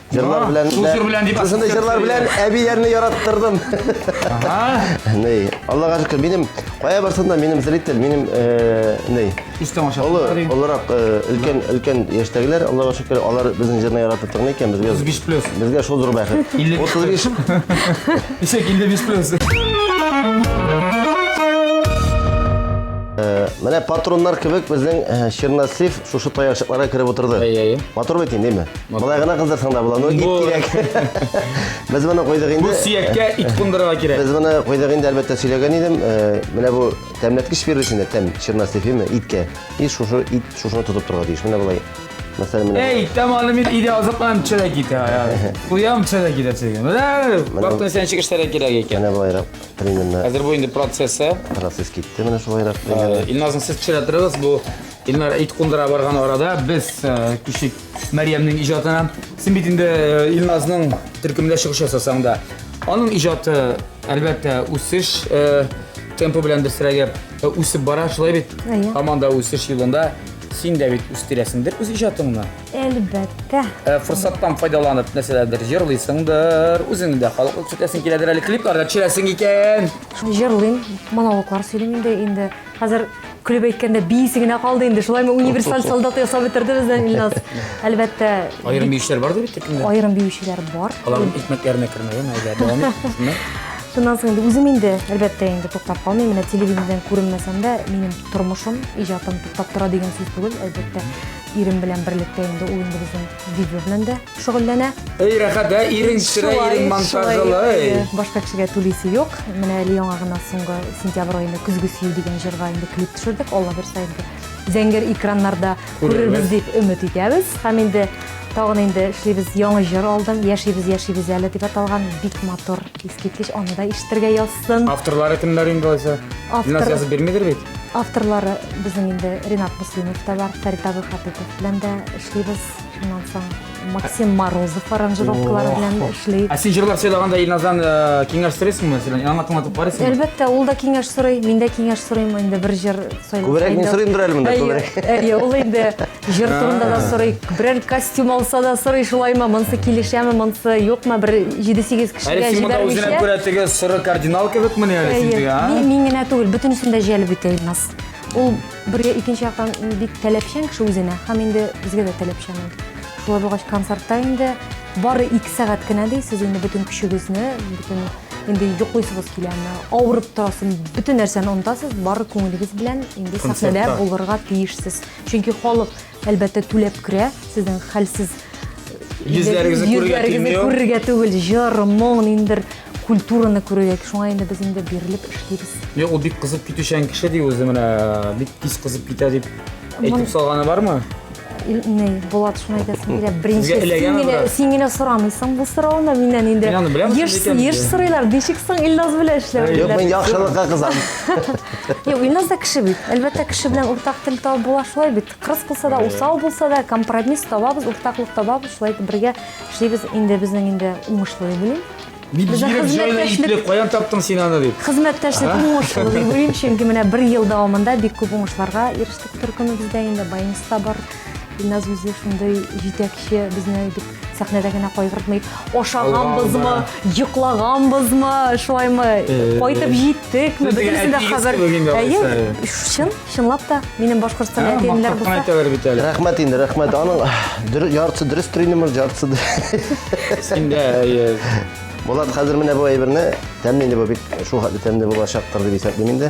C: Җырлар белән шул дә- җыр белән дип Шушындый ассоциация
A: җырлар белән бирә.
C: әбиләрне яраттырдым. Ага. Ней, Аллага шөкер, минем кая барсам да минем зритель, минем э, ней. Үз тамашасы Олы,
A: бар иде. олырак, э,
C: өлкән, өлкән яшьтәгеләр, Аллага шөкер, алар безнең җырны яратып тыңлый икән, безгә 35 плюс. Безгә шул
A: зур
C: бәхет. 55. 35. Исәк
A: 55 плюс.
C: Менә патроннар кебек безнең э, Черносив Шушы таяшыкларга кереп утырды. Әй, әй. Матур бит инде,
A: ме?
C: Былай гына кыздырсаң да була, но ит кирәк. Без моны куйдык инде. Бу сөяккә
A: ит
C: кундырырга
A: кирәк. Без моны куйдык инде, әлбәттә,
C: сөйләгән идем. Э, менә бу тәмләткеч бирде сине, тәм, чернас ефиме, иткә. И шушы ит шушыны тотып торырга тиеш. Менә болай. Мәсәлән, менә. Эй, таманы мин иде
A: азыкланып төшәрә китә. Куям төшәрә китә сезгә. Менә вакытны сән чигештәрә кирәк икән. Менә болайрак примерно.
C: Хәзер бу инде процессы.
A: Процесс китте менә
C: шулайрак. Илназны сез төшерә
A: торыгыз, бу Илнара ит кундыра барган арада без күчтек Мәрьямнең иҗатына. Син бит инде Илназның төркемендә чыгыш ясасаң да, аның иҗаты, әлбәттә, үсеш темпы белән дөресрәге үсеп бара, шулай бит? Һаман да үсеш
B: юлында.
A: Син дә бит үстерәсеңдер үз иҗатыңны? Әлбәттә.
B: Форсаттан
A: файдаланып, нәрсәләрдер җырлыйсыңдыр, үзеңне дә халыкка күрсәтәсең киләдер әле, клипларда төшерәсең икән. Җырлыйм,
B: монологлар сөйлим инде. Хәзер көлеп әйткәндә биисе генә калды инде. Шулаймы универсаль солдат ясап бетерде бездән Илназ. Әлбәттә. Аерым биючеләр
A: бардыр бит төркемдә. Аерым биючеләр бар.
B: Аларның икмәкләренә
A: кермәгән әле дәвам итсеннәр. Шуннан соң
B: инде үзем инде, әлбәттә, инде туктап калмыйм. Менә телевидениедән күренмәсәм дә, минем тормышым, иҗатым туктап тора дигән сүз түгел, әлбәттә, ирем белән берлектә инде ул инде безнең видео белән дә шөгыльләнә. Эй, рәхәт, ә?
A: Ирең сөрә, ирең монтажлы. Башка кешегә
B: түлисе юк. Менә әле яңа гына соңгы сентябрь аенда Көзге сөю дигән җырга инде клип төшердек. Алла бирса инде зәңгәр экраннарда күрербез дип өмет итәбез. Һәм инде тагын инде эшлибез яңа җыр алдым. Яшибез, яшибез әле дип аталган бик матур, искиткеч. Аны да ишетергә язсын. Авторлары кемнәр инде
A: алайса? Автор... язып бирмидер
B: бит?
A: Авторлары
B: безнең инде Ренат Муслимов та бар, Фәрит Абыйхатыйпов белән дә эшлибез. Шуннан соң Максим Морозов аранжировкалары белән эшли. Ә син җырлар сөйлаганда
A: Илназдан э, киңәш сорыйсыңмы, мәсәлән, яңа тыңлатып карыйсыңмы? Әлбәттә, ул да киңәш
B: сорый, мин дә киңәш сорыйм инде бер җыр сайлап. Күбрәк мин сорыйм бер әле монда,
C: күбрәк. Әйе, ул инде
B: җыр турында да сорый, берәр костюм алса да сорый, шулаймы, монысы килешәме, монысы юкмы, бер 7-8 кешегә җибәрмичә. Әле син монда үзенә күрә
A: теге соры
B: кардинал
A: кебекмени әле син теге, а? Мин генә түгел, бөтенесен
B: дә җәлеп итә Илназ. Ул Бергә икенче яктан бик таләпчән кеше үзенә һәм инде безгә дә таләпчән ул. Шулай булгач концертта инде бары ике сәгать кенә ди, сез инде бөтен көчегезне, бөтен инде йоклыйсыгыз киләме, авырып торасыз, бөтен нәрсәне онытасыз, бары күңелегез белән инде сәхнәдә булырга тиешсез. Чөнки халык Әлбәттә, түләп керә. Сезнең хәлсез Йөзләрегезне
A: күрергә йөзләрегезне тиңләү. күрергә түгел, җыр,
B: моң, ниндидер культураны күрергә. Шуңа инде без инде бирелеп эшлибез. Юк, ул бик кызып
A: китүчән кеше ди үзе менә, бик тиз кызып китә дип Мон- әйтеп салганы бармы? Ил- Ни,
B: Булат, шуны әйтәсең килә. Беренче Сезгә эләгәме син генә, бераз? син
A: генә сорамыйсың
B: бу сорауны миннән инде. Мин аны беләм, Еш,
A: шундый
B: икән
A: еш инде. сорыйлар, ничек соң
B: Илназ белән эшләү? Юк, мин яхшылыкка
C: кызам. Е,
B: Илназ да кеше бит. Әлбәттә, кеше белән уртак тел табып була шулай бит. Кырыс булса да, усал булса да, компромисс табабыз, уртаклык табабыз, шулай итеп бергә эшлибез. Инде безнең инде уңышлы дип уйлыйм. Ни Безнең бигрәк җайлы
A: хезмәттәшлек-
B: иплек, каян
A: таптың
B: син
A: аны дип. Хезмәттәшлек уңышлы
B: дип уйлыйм, чөнки менә бер ел дәвамында бик күп уңышларга ирештек төркемебездә инде, баянистта бар. Илназ үзе шундый җитәкче, безне бик Сәхнәдә генә кайгыртмый. Ашаганбызмы, йоклаганбызмы, шулаймы, кайтып җиттекме, бөтенесен дә хәбәр. Әйе, чын,
A: чынлап та
B: минем Башкортстан әтиемнәр булса. Әйтәләр бит әле.
A: Рәхмәт
B: инде,
A: рәхмәт.
C: Аның яртысы дөрес тренер, яртысы. Син
A: дә Булат, хәзер
C: менә бу әйберне тәмле инде бу бик шул хәтле тәмле булачактыр дип исәплим инде.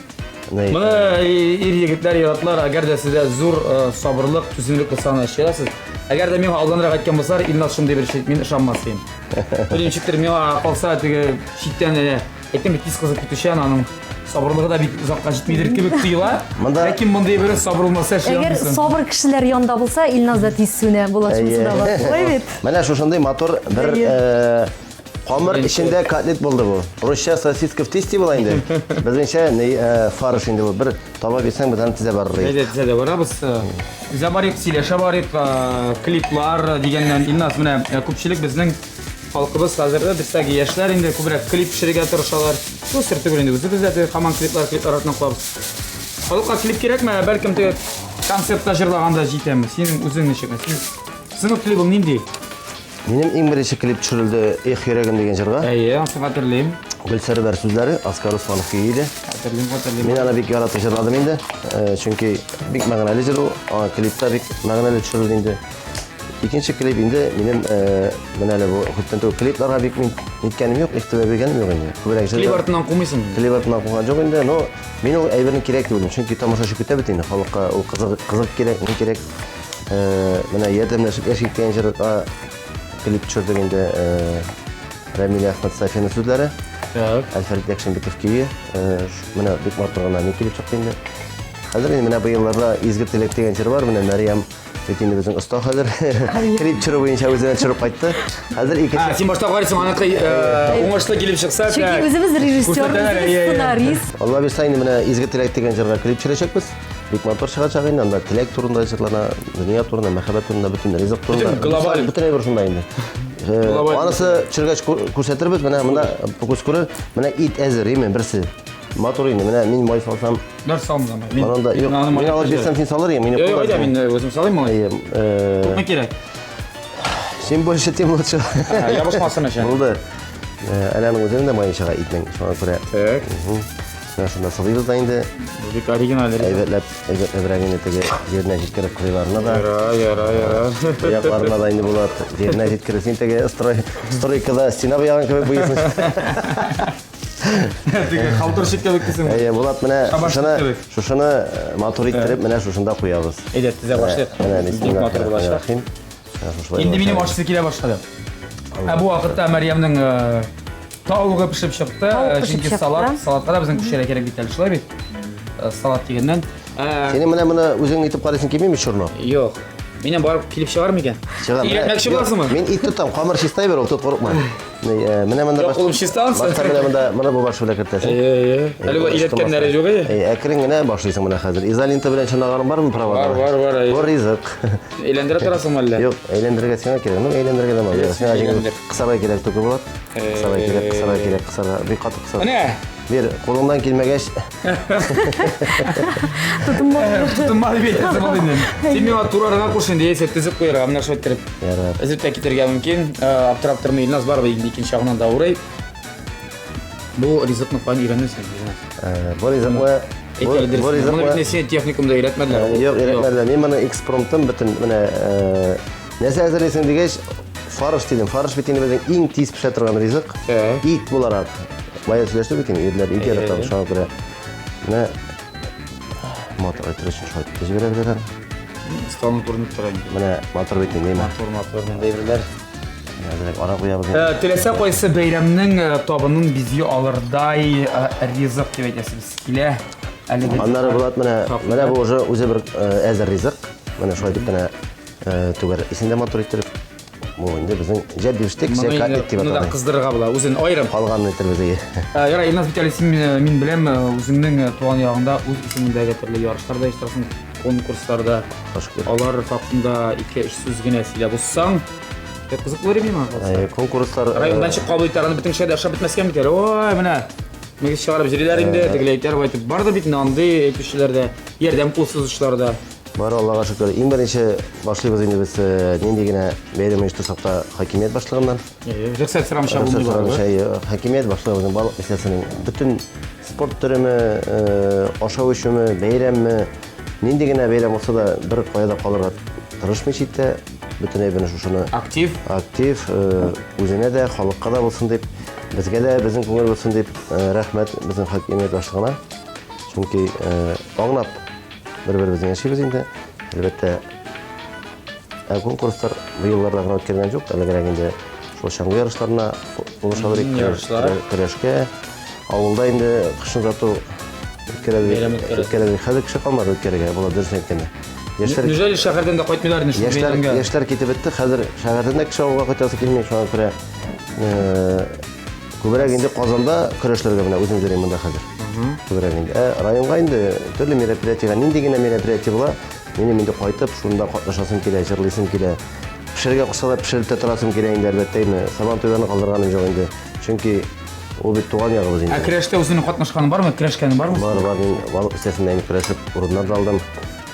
A: Моны
C: ир
A: егетләр яратмар, әгәр дә сездә зур сабырлык, түземлек булса аны эшләрсез. Әгәр дә миңа алданрак әйткән булсалар, Илназ шундый бер шит, мин ышанмас идем. Бер ничектер миңа калса теге читтән әнә әйтәм бит тиз кызып китүчән аның сабырлыгы да бик озакка җитмидер кебек тоела. Монда ләкин мондый бер сабыр булмаса эшли Әгәр сабыр кешеләр янда
B: булса, Илназ да тиз сүнә, булачымсы да бар. Менә шушындый матур
C: бер Камыр эчендә котлет булды бу. Русча сосиска в тесте була инде. Безнеңчә не э, фарш инде бу. Бер таба бирсәң, без аны тизә барырбыз. Әйдә, тизә дә барабыз.
A: Тизә барыйк, сөйләшә барыйк, э, клиплар дигәннән Илназ менә э, күпчелек безнең халкыбыз хәзер дә бездәге яшьләр инде күбрәк клип пешерергә тырышалар. Бу сер түгел инде үзебез дә теге хаман клиплар клип арасына куабыз. Халыкка клип кирәкме? Бәлкем теге концертта җырлаганда җитәме? Синең үзең ничек? Син синең клибың нинди? Минем
C: иң беренче клип төшерелде Эх йөрәгем дигән җырга. Әйе, аны хәтерлим.
A: Гөлсәр бәр сүзләре,
C: Аскар Русланов көе иде. Хәтерлим, хәтерлим. Мин
A: аны бик яратып
C: җырладым инде. Э, чөнки бик мәгънәле җыр ул. Аны клипта бик мәгънәле төшерелде инде. Икенче клип инде минем э, менә әле бу күптән түгел клипларга бик мин ниткәнем юк, игътибар биргәнем юк инде. Күбрәк җыр. Клип артыннан кумыйсың. Клип
A: артыннан куган җок
C: инде, но мин ул әйберне кирәк дип уйлыйм. Чөнки тамашачы көтә бит инде, халыкка ул кызык кызык кирәк, ни кирәк. э, менә ярдәмләшеп яшь иткән җырга клип төшердек инде э, Рамиль Әхмәт Сафина сүзләре. Так. Әлфәрит
A: Якшинбеков
C: көе. Э, менә бик матур гына ни клип чыкты инде. Хәзер инде менә быелларда Изге теләк дигән җыр бар, менә Мәриям Бит инде безнең оста хәзер. Клип төшерү буенча үзенә төшереп кайтты. Хәзер ике. А, син башта карыйсың, аныкы
A: уңышлы килеп чыкса, так. Чөнки үзебез режиссер,
B: сценарист. Алла бирса инде менә
C: Изге теләк дигән җырга клип төшерәчәкбез. Бик матур чыгачак инде, анда теләк турында җырлана, дөнья турында, мәхәббәт турында, бөтен ризык турында. Бөтен глобаль. Бөтен әйбер шунда
A: инде.
C: Глобаль. Анысы төшергәч күрсәтербез, менә монда күз күрер, менә ит әзер, име, берсе. Матур инде, менә мин май салсам. Нәр салмыз анда?
A: Мин анда, юк, мин
C: алып бирсәм, син салыр ең, мин юк. Юк, мин үзем салыйм
A: малай. Күпме кирәк?
C: Чем больше, тем лучше. Ябышмасын өчен.
A: Булды.
C: Әнәнең үзенең дә мае чыга итнең, шуңа күрә. Так.
A: Менә шунда
C: сылыйбыз да инде. Бу бик оригиналь.
A: Әйбәтләп, әйбәтләбрәк
C: инде теге җиренә җиткереп кырыйларына да. Яра, яра, яра.
A: Аякларына да
C: инде булат. Җиренә җиткереп син теге строй, стройкада стена буяган кебек буйсың. Теге
A: халтурщик кебек дисең. Әйе, булат менә шушыны,
C: шушыны э, матур иттереп менә шушында куябыз. Әйдә, тезә башлыйк.
A: Менә бик матур булачак. Инде минем ашысы килә башлады. Ә бу вакытта Мәрьямнең э, Тавыгы пешеп чыкты. Тавык э, пешеп чыкты. салат, салатка да безнең кешеләргә кирәк бит әле, шулай бит? Э, салат дигәннән. Э, Сине менә моны
C: үзең итеп карыйсың килмиме чорны? Юк. Минем
A: барып килеп чыгар микән? Чыгар. Игәтмәкче буласыңмы? Мин ит тотам, камыр
C: чистай бер, ул тот курыкма. Менә монда баш. Кулым чистан. Башта
A: менә монда, менә бу
C: баш белән кертәсең. Әйе, әйе. Әле бу
A: иләткәннәре юк әйе. Әйе, әкрен генә
C: башлыйсың менә хәзер. Изолента белән чынаганың бармы правада? Бар, бар, бар. Бу ризык. Әйләндерә
A: торасыңмы әллә? Юк, әйләндерергә сиңа
C: кирәк. Ну, әйләндерергә дә бар. Сиңа җиңел. Кысарга кирәк түгел булат. Кысарга кирәк, кысарга кирәк, кысарга. Бик каты кысарга. Менә. Бер
A: кулыңнан
C: килмәгәч.
A: Тотынмады. Тотынмады бит. Син миңа турарга куш инде, яисә тезеп куярга, менә шулай иттереп. Ярар. Эзеп тә китергә
C: мөмкин.
A: Аптырап тормый Илназ барыбер инде икенче ягыннан да урый. Бу ризыкны каян өйрәнерсең,
C: Илназ? Бу ризыкны
A: Бу ризыкны техникумда өйрәтмәделәр. Юк, өйрәтмәделәр. Мин
C: моны экспромтым бөтен менә Нәрсә әзерлисең дигәч, фарш дидем. Фарш бит инде безнең иң тиз пешә торган ризык. Ә. Ит буларак. Бая сөйләште бит инде, ирләр ит ярата, шуңа күрә. Менә матур иттерә өчен шулай итеп җибәрәбез әле. Столны
A: күренеп тора инде. Менә матур бит инде.
C: Матур, матур, монда ирләр.
A: Әзрәк ара
C: куябыз. Э, теләсә кайсы
A: бәйрәмнең э, табынын бизи алырдай э, ризык дип әйтәсез. Килә. Әлеге. Аннары булат менә,
C: менә бу уже үзе бер әзер ризык. Менә шулай дип кенә Түгәрәк исен дә матур иттереп. Бу инде безнең җә биштек, җә катик дип аталган. Монда кыздырырга була,
A: үзен
C: айрым.
A: Калган иттербез ие.
C: Ярай, Илназ бит әле
A: син мин беләм, үзеңнең туган ягыңда үз исемендәге төрле ярышларда иштәсең, конкурсларда. Алар хакында 2-3 сүз генә сөйләп узсаң, кызыклы рим миңа. Конкурслар райондан
C: чык кабул итәргә
A: бөтен шәһәрдә ашап бетмәскә микән? Ой, менә Мегез чыгарып җириләр инде, тегеләйтер байтып. Бар да бит инде андый әйтүчеләр дә, ярдәм кул сузучылар да. Бар Аллага шөкер.
C: Иң беренче башлыйбыз инде без э, нинди генә бәйрәм оештырсак та хакимият башлыгыннан. Э, Рөхсәт сорамыйча
A: булмый Рөхсәт барыбер. сорамыйча, э, хакимият башлыгыбызның
C: барлык мәсьәләсенең бөтен спорт төреме, э, ашау эчүме, бәйрәмме, нинди генә бәйрәм булса да бер кая да калырга тырышмый читтә. Бөтенләй менә шушыны Актив. актив,
A: э,
C: үзенә дә, халыкка да булсын дип, безгә дә безнең күңел булсын дип, э, рәхмәт безнең хакимият башлыгына. Чөнки э, аңлап Бер-беребезне яшибез инде. Әлбәттә, ә конкурслар бу елларда гына үткәргән юк. Әлегрәк инде шул чаңгы ярышларына булышалар икән. Көрәшкә. Авылда инде кышын зату үткәрәбез. Хәзер кеше калмады үткәрергә, була дөрес әйткәндә. Яшьләр Нәҗәл
A: шәһәрдән дә кайтмыйлар инде шул бәйрәмгә. Яшьләр китеп бетте. Хәзер
C: шәһәрдән дә кеше авылга кайтасы килми, шуңа күрә Күбрәк инде Казанда көрәшләргә менә үзем йөрим монда хәзер. Күбрәк инде. Ә районга инде төрле мероприятиега, нинди генә мероприятие була, минем инде кайтып, шунда катнашасым килә, җырлыйсым килә. Пешерергә кушса да пешереп тә торасым килә инде, әлбәттә инде. Сабан туйларны калдырганым юк инде. Чөнки ул бит туган ягыбыз инде. Ә көрәштә үзеңнең катнашканың
A: бармы, көрәшкәнең бармы? Бар, бар, мин балык
C: кесәсендә инде көрәшеп урыннар да алдым.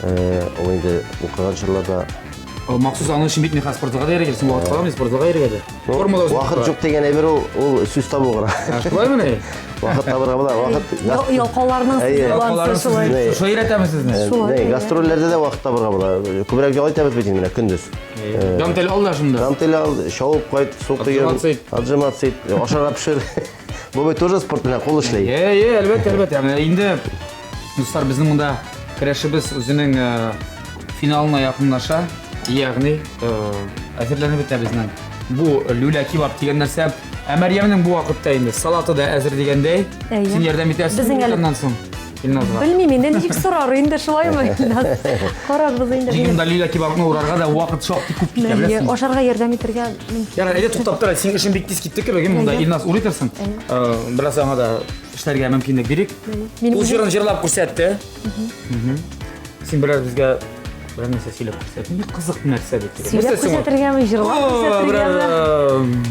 C: Э, Ул инде укыган чорларда Махсус
A: аның өчен бит механспортларга да йөргәнсең, вакыт каламы спортларга йөрергә дә? Формула Вакыт юк дигән әйбер ул,
C: ул сүз табу гына. Шулай мени?
A: Вакыт табырга була,
C: вакыт. Ялкауларның сүзе
B: булган шулай. Шулай өйрәтәбез сезне.
A: Шулай. Гастрольләрдә дә вакыт
C: табырга була. Күбрәк ял итәбез бит инде менә көндез. Дантель ал да
A: шунда. Дантель ал, шауып
C: кайт, су коеп. Отжиматься ит. Отжиматься ит. Ашарга пешер. Бабай тоже спорт белән кул эшләй. Е, е, әлбәттә, әлбәттә. Менә
A: инде дуслар безнең монда көрәшебез үзенең э, финалына якынлаша. Ягъни, э, әзерләнеп бетә безнең. Бу люля кебаб дигән нәрсә. Ә Мәрьямнең бу вакытта инде салаты да әзер дигәндәй. Әйе. Син ярдәм итәсең Безнең әле- моннан соң. Илназга. Белмим инде ничек
B: сорар инде шулаймы Илназ? Карарбыз инде. Дигән дә Лилия кебабны
A: урарга да вакыт шактый күп китә, беләсеңме? Ашарга ярдәм итәргә
B: мөмкин. Яра, әйдә туктап тора, синең
A: эшең бик тиз китте кебек, монда Әйдә. Илназ урый торсын. Э, Бераз аңа да эшләргә мөмкинлек бирик. Минем Ул үзем- җырын җырлап күрсәтте. Мгм. Син бераз безгә берәр нәрсә сөйләп күрсәт. Ни кызык нәрсә бит. Сөйләп күрсәтергәме,
B: җырлап күрсәтергәме?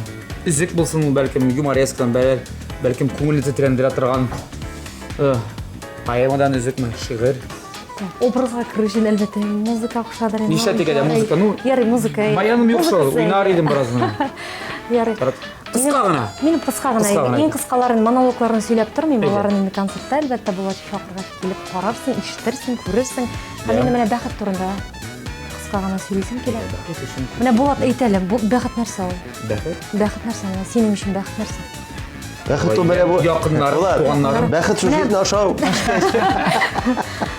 B: Изек
A: булсын ул бәлкем юморескадан, бәлкем күңелне тетрәндерә торган Поэмадан үзекме, шигырь? Образга
B: керү өчен әлбәттә музыка кушадыр инде. Нишләтик әле музыка? Ну,
A: ярый, музыка. Баяным
B: юк шул,
A: уйнар идем бераздан. Ярый.
B: Кыска гына.
A: Мин кыска гына идем.
B: Иң кыскаларын, монологларын сөйләп тормыйм. Алар инде концертта әлбәттә булачак чакырга килеп карарсың, ишетерсең, күрерсең. Һәм инде менә бәхет турында кыска гына сөйлисем килә. Менә Булат әйтәле, бәхет нәрсә ул? Бәхет? Бәхет
A: нәрсә?
B: Синең өчен бәхет нәрсә? Бәхет
C: ул менә бу. Якыннар, Булат, туганнарым.
A: Бәхет шул җитне ашау.
C: Бәхет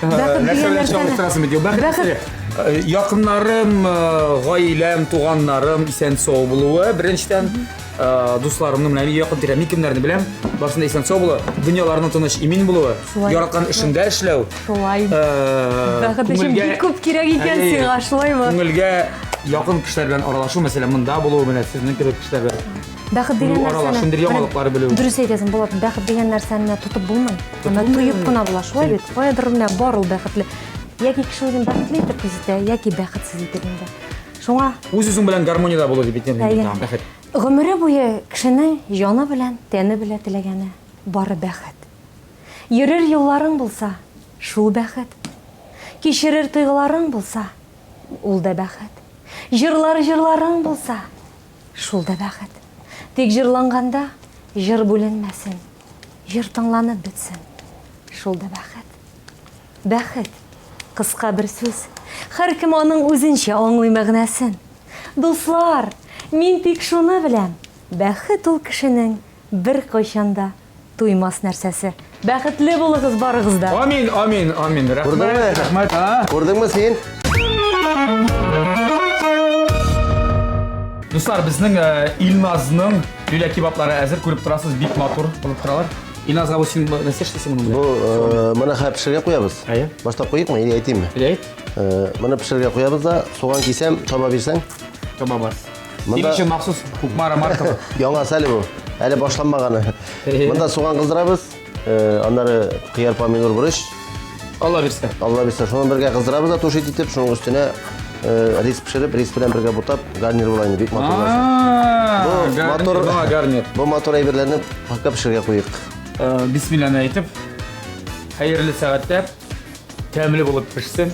C: Нәрсә дигән белән нәрсәне-
A: чагыштырасың бит? Бәхет Бәхет- нәрсә? Э, Якыннарым, э, гаиләм, туганнарым исән сау булуы. Беренчедән, э, дусларымның менә якын тирә, мин кемнәрне беләм, барсында исән сау булуы, дөньяларының тыныч, имин булуы, Шулай. яраткан эшендә эшләү. Шулай. э, Бәхет
B: өчен күңелгә- бик күп кирәк икән Әйе. сиңа, шулаймы? Күңелгә
A: якын кешеләр белән аралашу, мәсәлән, монда булу, менә сезнең кебек кешеләр белән Бәхет дигән нәрсәне... Күрү
B: арала шундый яңалыклар белү. Дөрес әйтәсең, Булат, бәхет дигән нәрсәне тотып булмый. Аны тоеп кына була, шулай бит. Каядыр менә бар ул бәхетле. Яки кеше үзен бәхетле итеп күзәтә, яки бәхетсез итеп инде. Шуңа... Үз-үзең белән гармониядә
A: булу дип әйтәм инде, бәхет. Гомере буе
B: кешенең җаны белән, тәне белән теләгәне, бары бәхет. Йөрер юлларың булса, шул бәхет. Кичерер тойгыларың булса, ул да бәхет. Җырлар җырларың булса, Шул да бәхет. Тик җырланганда җыр бүленмәсен. Җыр тыңланып бетсен. Шул да бәхет. Бәхет. Кыска бер сүз. Һәркем аның үзенчә аңлый мәгънәсен. Дуслар, мин тик шуны беләм, бәхет ул кешенең беркайчан да Туймас нәрсәсе. Бәхетле булыгыз барыгыз да. Амин, амин, амин.
A: Рәхмәт, рәхмәт. Күрдеңме
C: син?
A: Дуслар, безнең э, Илназның лилә кебаплары әзер күреп торасыз, бик матур булып торалар. Илназга бу син нәрсә эшлисең моның белән? Бу э, моны хәзер пешерергә
C: куябыз. Әйе. Башта куйыкмы или әйтимме? Әйт. Э,
A: моны пешерергә
C: куябыз да, суган кисәм, таба бирсәң. Таба бар.
A: Син өчен махсус Кукмара маркалы. Яңа әле бу.
C: Әле башланмаганы. Монда суган кыздырабыз. Э, аннары кыяр, помидор, бурыч. Алла бирсә.
A: Алла бирсә, шуны бергә
C: кыздырабыз да тушит итеп, шуның өстенә э, рис пешереп, рис белән бергә бутап, гарнир була инде, бик матур була. Бу матур,
A: гарнир. Бу матур әйберләрне
C: пакка пешерергә куйыйк. Э, бисмилланы
A: әйтеп, хәерле сәгатьтә тәмле булып пешсен.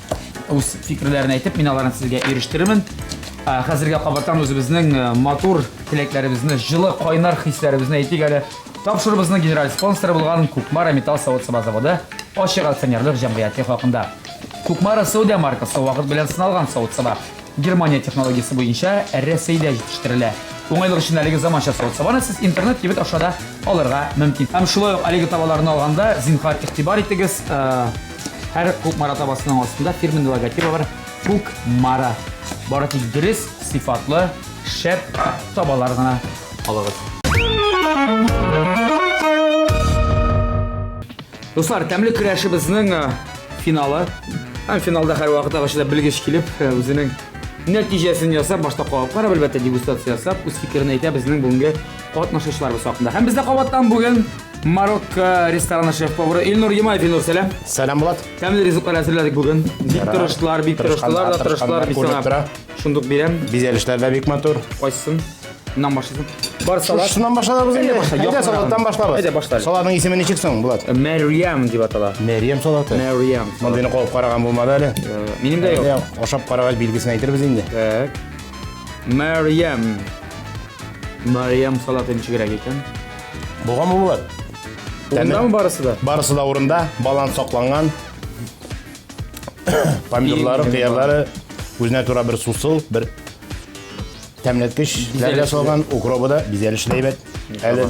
A: үз фикерләрен әйтеп, мин аларны сезгә ирештерермен. Хәзергә кабаттан үзебезнең матур теләкләребезне, җылы, кайнар хисләребезне әйтик әле. Тапшырыбызның генераль спонсоры булган Кукмара металл савыт саба заводы ачык акционерлык җәмгыяте хакында. Кукмара Саудия маркасы вакыт белән сыналган савыт саба. Германия технологиясе буенча Рәсәйдә җитештерелә. Уңайлык өчен әлеге заманча савыт сабаны сез интернет кибет аша да алырга мөмкин. Һәм шулай ук әлеге табаларны алганда, зинһар игътибар итегез, Һәр күк мара табасының астында фирменный логотипы бар. Күк мара. Бары тик дөрес, сыйфатлы, шәп табалар гына алыгыз. Дуслар, тәмле көрәшебезнең э, финалы. Һәм финалда һәр вакыт агачыда белгеч килеп, э, үзенең нәтиҗәсен ясап, башта калып карап, әлбәттә, дегустация ясап, үз фикерен әйтә безнең бүгенге катнашучыларыбыз хакында. Һәм бездә кабаттан бүген Марокко рестораны шеф-повары Илнур Ямаев. Илнур, сәлам. Сәлам, Булат. Тәмле
C: ризыклар әзерләдек
A: бүген. Бик тырыштылар, бик тырыштылар да тырыштылар. Бик сана. Шундук бирәм. Бизәлешләр дә бик матур.
D: Кайсын?
A: Нан башлысын. Бар салат. Шуннан башлабыз инде.
D: Әйдә салаттан башлабыз. Әйдә башлабыз. Салатның исеме
A: ничек соң,
D: Булат? Э, Мәриям дип атала.
A: Мәриям салаты. Мәриям.
D: Мондыйны куып
A: караган
D: булмады әле. Э, минем дә юк.
A: Ашап карагач билгесен
D: әйтербез инде. Так.
A: Мәриям. Мариям салаты ничегрәк икән? Булган булыр.
D: Урындамы
A: барысы да? Барысы да урында,
D: баланс сакланган. Помидорлары, Иң кыярлары үзенә тура бер сусыл, бер тәмләткеч, ләргә салган, укробы да бизәлешле әйбәт. Әле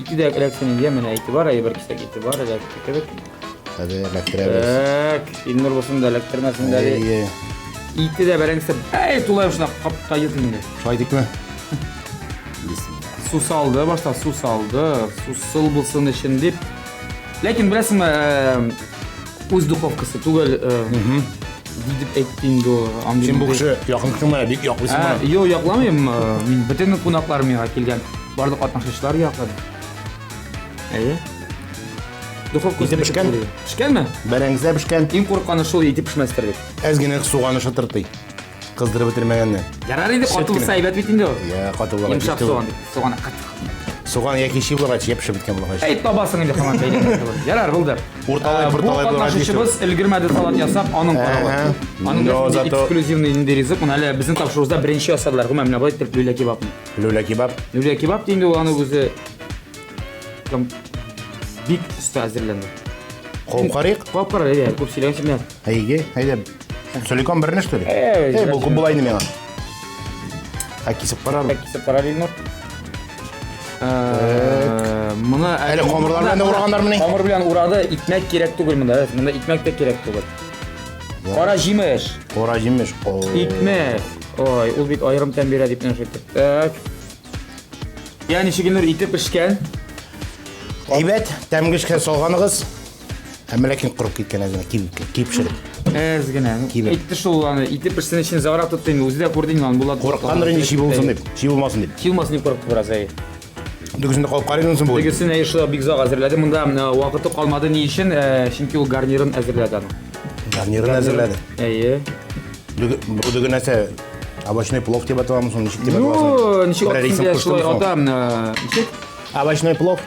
D: Ике дә
A: эләксен инде, менә әйтебар, әйбер кисәк әйтебар, эләкте кебек. Хәзер
D: эләктерәбез. Так, Илнур
A: булсын да эләктермәсен дә. Әйе. Ике дә бәрәңгесе бәй тулай шуна капка йөз инде. Шулай дикме? Су салды, башта су салды. Су сыл булсын өчен дип. Ләкин беләсеңме, Үз духовкасы түгел. Дип әйтте инде ул. Син бу кеше
D: якын кешең менә бик яклыйсың ә, моны. Юк, якламыйм.
A: Мин бөтен кунаклар миңа килгән. Барлык катнашучылар якын. Әйе. Духовка итеп пешкән.
D: Пешкәнме?
A: Бәрәңгезләр пешкән. Иң
D: курыкканы шул итеп
A: пешмәстер дип. Әз генә суганы
D: шытыртый. Кыздырып бетермәгәнне. Ярар инде каты булса
A: әйбәт бит инде ул. Я, каты булгач. Йомшак
D: суган дип. Суган
A: кат. Суган яки
D: чи булгач, япшып беткән булгач. Әй табасың инде хаман
A: бәйләгән булып. Ярар булды. Урталай, Ә, урталай Бу булгач,
D: катнашучыбыз өлгермәде
A: салат ясап, аның каравы. Әһә. Аның Но да зато- эксклюзивный инде ризык. Моны әле безнең тапшыруыбызда беренче ясадылар. Гомумән, менә болай итеп люля кебабны. Люля кебаб.
D: Люля кебаб динде ул
A: аның үзе. Там бик өстә әзерләнде. Куып карыйк.
D: Куып карар, әйдә, күп
A: сөйләгәнче менә. Әйге, әйдә.
D: Соликон берне, что ли? Эй, Эй, бу кубылай не
A: мена.
D: А кисеп карар. Кисеп карар инде.
A: Моны әле камырлар
D: белән урагандыр мени? Камыр белән урады, икмәк
A: кирәк түгел монда. Монда икмәк тә кирәк түгел. Кара җимеш. Кара җимеш.
D: Икмәк.
A: Ой, ул бит аерым тәм бирә дип нәрсә әйтте. Так. Яни шигенер итеп пешкән.
D: Әйбәт, тәмгешкә салганыгыз. Әмма ләкин корып киткән әзер кибеп кибеп шырып. Әз генә.
A: Кибеп. Әйтте шул аны итеп пешсен өчен загра тотты инде. Үзе дә күрде инде аны Булат. Корыккандыр инде чи булсын дип.
D: Чи булмасын дип. Чи булмасын дип корыкты бераз әй.
A: Дөгесен дә калып
D: карыйсың соң бу. Дөгесен әй шулай бик зак
A: әзерләде. Монда э, вакыты калмады ни өчен? Э, чөнки ул гарнирын әзерләде аны. Гарнирын
D: әзерләде. Әйе. Бу дөге нәрсә? Овощной плов дип аталамы соң ничек дип аталасың? Ну, ничек атасын дә
A: шулай атам. Э, ничек? Овощной плов.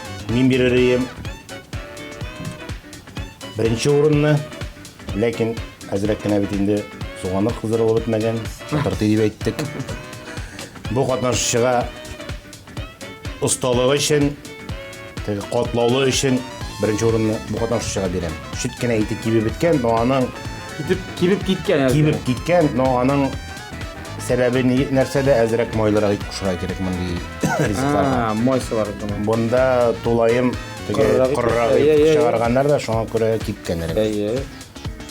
D: Мин бирер идем беренче урынны, ләкин әзрәк кенә бит инде суганы кыздырылып бетмәгән, шатырты дип әйттек. Бу катнашучыга осталыгы өчен, теге катлаулы өчен беренче урынны бу катнашучыга бирәм. Шит кенә итеп кибеп беткән, но аның китеп кибеп
A: киткән. Кибеп киткән, но
D: аның Сәбәбе ни- нәрсәдә әзрәк майлырак ит кушырга кирәк мондый ризыкларга. А, Мойсалар думаю.
A: Бунда
D: тулаем теге Корырак ит корырак кушыра, иә, иә, ит иә. чыгарганнар да шуңа күрә кипкәнрәк. Әйе.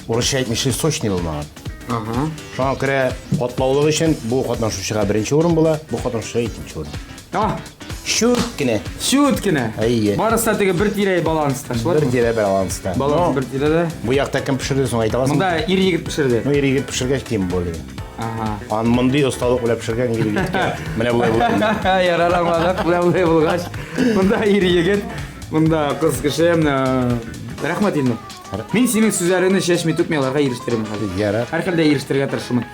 A: Урысча
D: әйтмешли сочный булмаган. Ага.
A: Шуңа күрә
D: катлаулык өчен бу катнашучыга беренче урын була, бу катнашучыга икенче урын. Ах!
A: Чүт кенә.
D: Чүт кенә.
A: Әйе. Барысы да
D: теге бер тирәй
A: баланста, шулай Бер тирә баланста.
D: Баланс бер тирәдә.
A: Бу якта кем пешерде
D: соң әйтә аласың? Монда ир егет пешерде. Ну,
A: ир егет пешергәч
D: тем более. Ага. Ан
A: мондый осталык
D: белән пешергән ир егеткә менә болай булган. Ярар аңладык, менә
A: болай булгач. Монда ир егет, монда кыз кеше. Рәхмәт инде. Мин синең сүзләреңне чәчми түкми аларга ирештерәм хәзер. Ярар. Һәрхәлдә ирештерергә тырышырмын.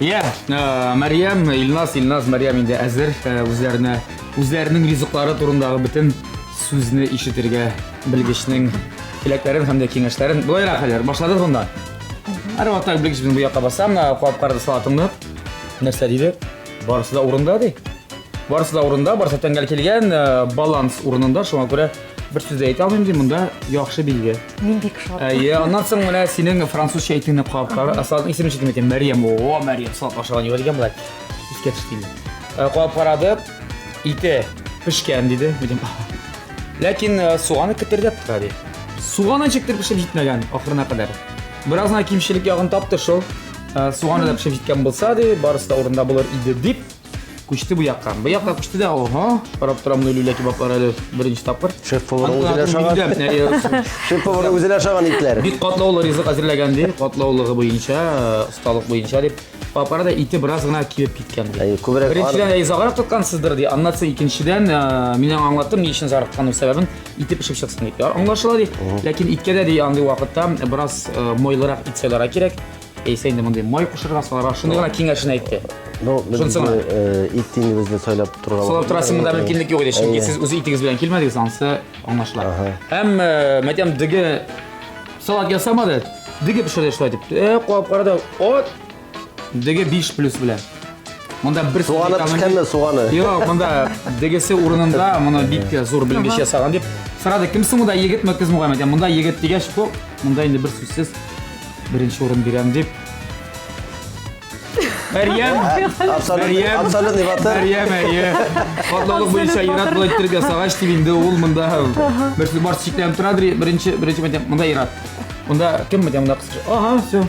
A: Иә, Мәриям, Илназ, Илназ, Мәриям инде әзер үзләренә, үзләренең ризыклары турындағы бөтен сүзне ишетергә белгечнең теләкләрен һәм дә киңәшләрен. Болайрак хәлләр, башладык монда. Һәр вакытта белгеч безнең бу якка басам, куап карады салатыңны. Нәрсә диде? Барысы да урында ди. Барысы да урында, барысы тәңгәл килгән, баланс урынында, шуңа күрә Бер сүз әйтә алмыйм ди, монда яхшы билге. Мин бик шат. Әйе,
B: аннан соң менә
A: синең французча әйтүне карап кара. Асалның исемен шикем әйтәм, Мәриям. О, Мәриям, салат ашаган юк дигән болай. Искә төште. Э, карап карады. Ите пешкән диде. Дидем. Ләкин э, суганы кетердәп тора ди. Суганы чиктер пешеп җитмәгән ахырына кадәр. Бераз гына кимчелек ягын тапты шул. Э, суганы да пешеп җиткән булса ди, барысы да урында булыр иде дип Күчте бу якка. Бу якка күчте дә, ого. Карап торам ну люлә кебаплар әле беренче тапкыр. Шеф повар үзенә
C: ашаган. Шеф повар үзенә ашаган итләр. Бик катлаулы ризык
A: әзерләгән ди. Катлаулыгы буенча, осталык буенча дип. Папара да ите бераз гына кибеп киткән ди. Әй, күбрәк Беренчедән әй заграк тоткансыздыр ди. Аннан соң икенчедән э, мин аңа аңлаттым ни өчен заграк тотканым сәбәбен ите пешеп чыксын дип. Аңлашыла ди. Ләкин иткә дә ди андый вакытта бераз э, мойлырак ит сайларга кирәк. Яисә инде мондый май кушырга саларга, шуны гына киңәшен әйтте. Ну, Шунысы гына.
C: Ит тиңебезне сайлап торырга. Сайлап торасы монда мөмкинлек
A: юк иде, чөнки сез үз итегез белән килмәдегез, ансы аңлашыла. Һәм мәдәм диге салат ясамады, диге пешерде шулай дип. Э, куап карады. От диге 5 плюс белән. Монда бер суганы пешкәнме суганы?
C: Юк, монда
A: дигесе урынында, моны бик зур белгеч ясаган дип. Сорады, кимсең монда егетме, кызмы Мөхәммәд? Монда егет дигәч, монда инде бер сүзсез Беренче урын бирәм дип. Мәрьям! Мәрьям!
C: Абсолютный батыр. Мәрьям, әйе.
A: Катлаулык буенча Ират булай иттереп ясагач дип инде ул монда берсе бар чикләнеп тора дри. Беренче, беренче мәдәм, монда Ират. Монда кем мәдәм, монда кыз. Ага, все.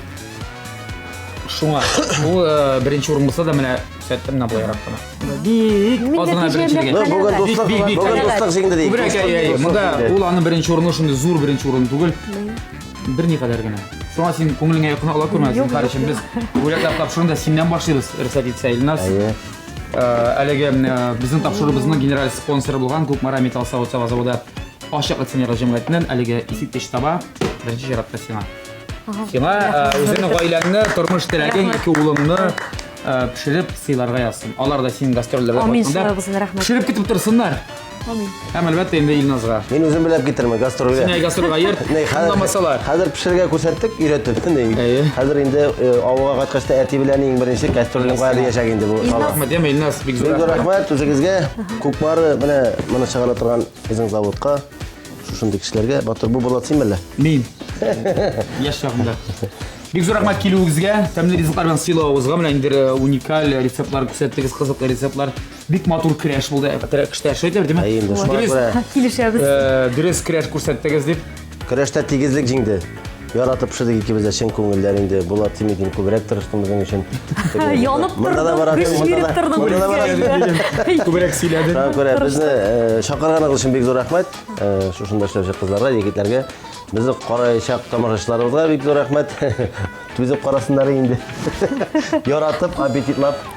A: Шуңа. Ул э, беренче урын булса да менә күрсәттем менә болай рак кына. Бик азына беренчелеге. Бүген дуслык, бүген
C: дуслык җиңде ди. Күбрәк, әйе, әйе. Монда
A: ул аның беренче урыны шундый зур беренче урын түгел. Бер ни кадәр генә. Шуңа син күңелеңә якын ала күрмә, зинһар өчен без бүләкләр тапшыруында синнән башлыйбыз, рөхсәт итсә, Илназ. Әйе. Әлеге безнең тапшыруыбызның генераль спонсоры булган Кукмара металл савыт-саба заводы ачык акционерлар җәмгыятеннән әлеге искиткеч саба беренче чиратта сиңа. Сиңа үзеңнең гаиләңне, тормыш теләгең, ике улыңны пешереп сыйларга язсын. Алар да синең гастрольләргә кайтканда пешереп
B: көтеп торсыннар.
A: Амин. Һәм
B: әлбәттә инде
A: Илназга. Мин үзем беләп китермен
C: гастрольгә. Сине гастрольгә йөрт. Ней,
A: хәзер, Аңламасалар. хәзер пешерергә
C: күрсәттек, өйрәтеп. Ней. Әйе. Хәзер инде э, авылга кайткач та әти белән иң беренче кастрольне кая диячәк инде бу. Илназ. Рәхмәт, яме Илназ, бик
A: зур Бик зур рәхмәт. рәхмәт үзегезгә.
C: Күкбары менә моны чыгара торган безнең заводка, шушындый кешеләргә. Батыр бу булат син белә. Мин.
A: Яшь чагымда. Бик зур рәхмәт килүегезгә, тәмле ризыклар белән сыйлавыгызга, менә инде э, уникаль рецептлар күрсәттегез, кызыклы рецептлар. Бик матур кряш булды. Кряшта шедевр, димә. Әй, инде шулай Дөрес, күрә. Килешәбез.
C: э,
A: дөрес кряш күрсәттегез
B: дип.
A: Көрәштә
C: тигезлек җиңде. Яратып пешердек икебез дә чын күңелдән инде. Булат Тимидин күбрәк тырышты безнең өчен. Янып Монда
B: да тордым, барасың, көч монда биреп да- тордым монда да барасың. үзгәргәнгә.
A: Күбрәк сөйләдем. Шуңа күрә безне э,
C: чакырганыгыз өчен бик зур рәхмәт. Э, Шушында эшләүче кызларга, егетләргә, безне караячак тамашачыларыбызга бик зур рәхмәт. Түзеп карасыннар инде. Яратып, аппетитлап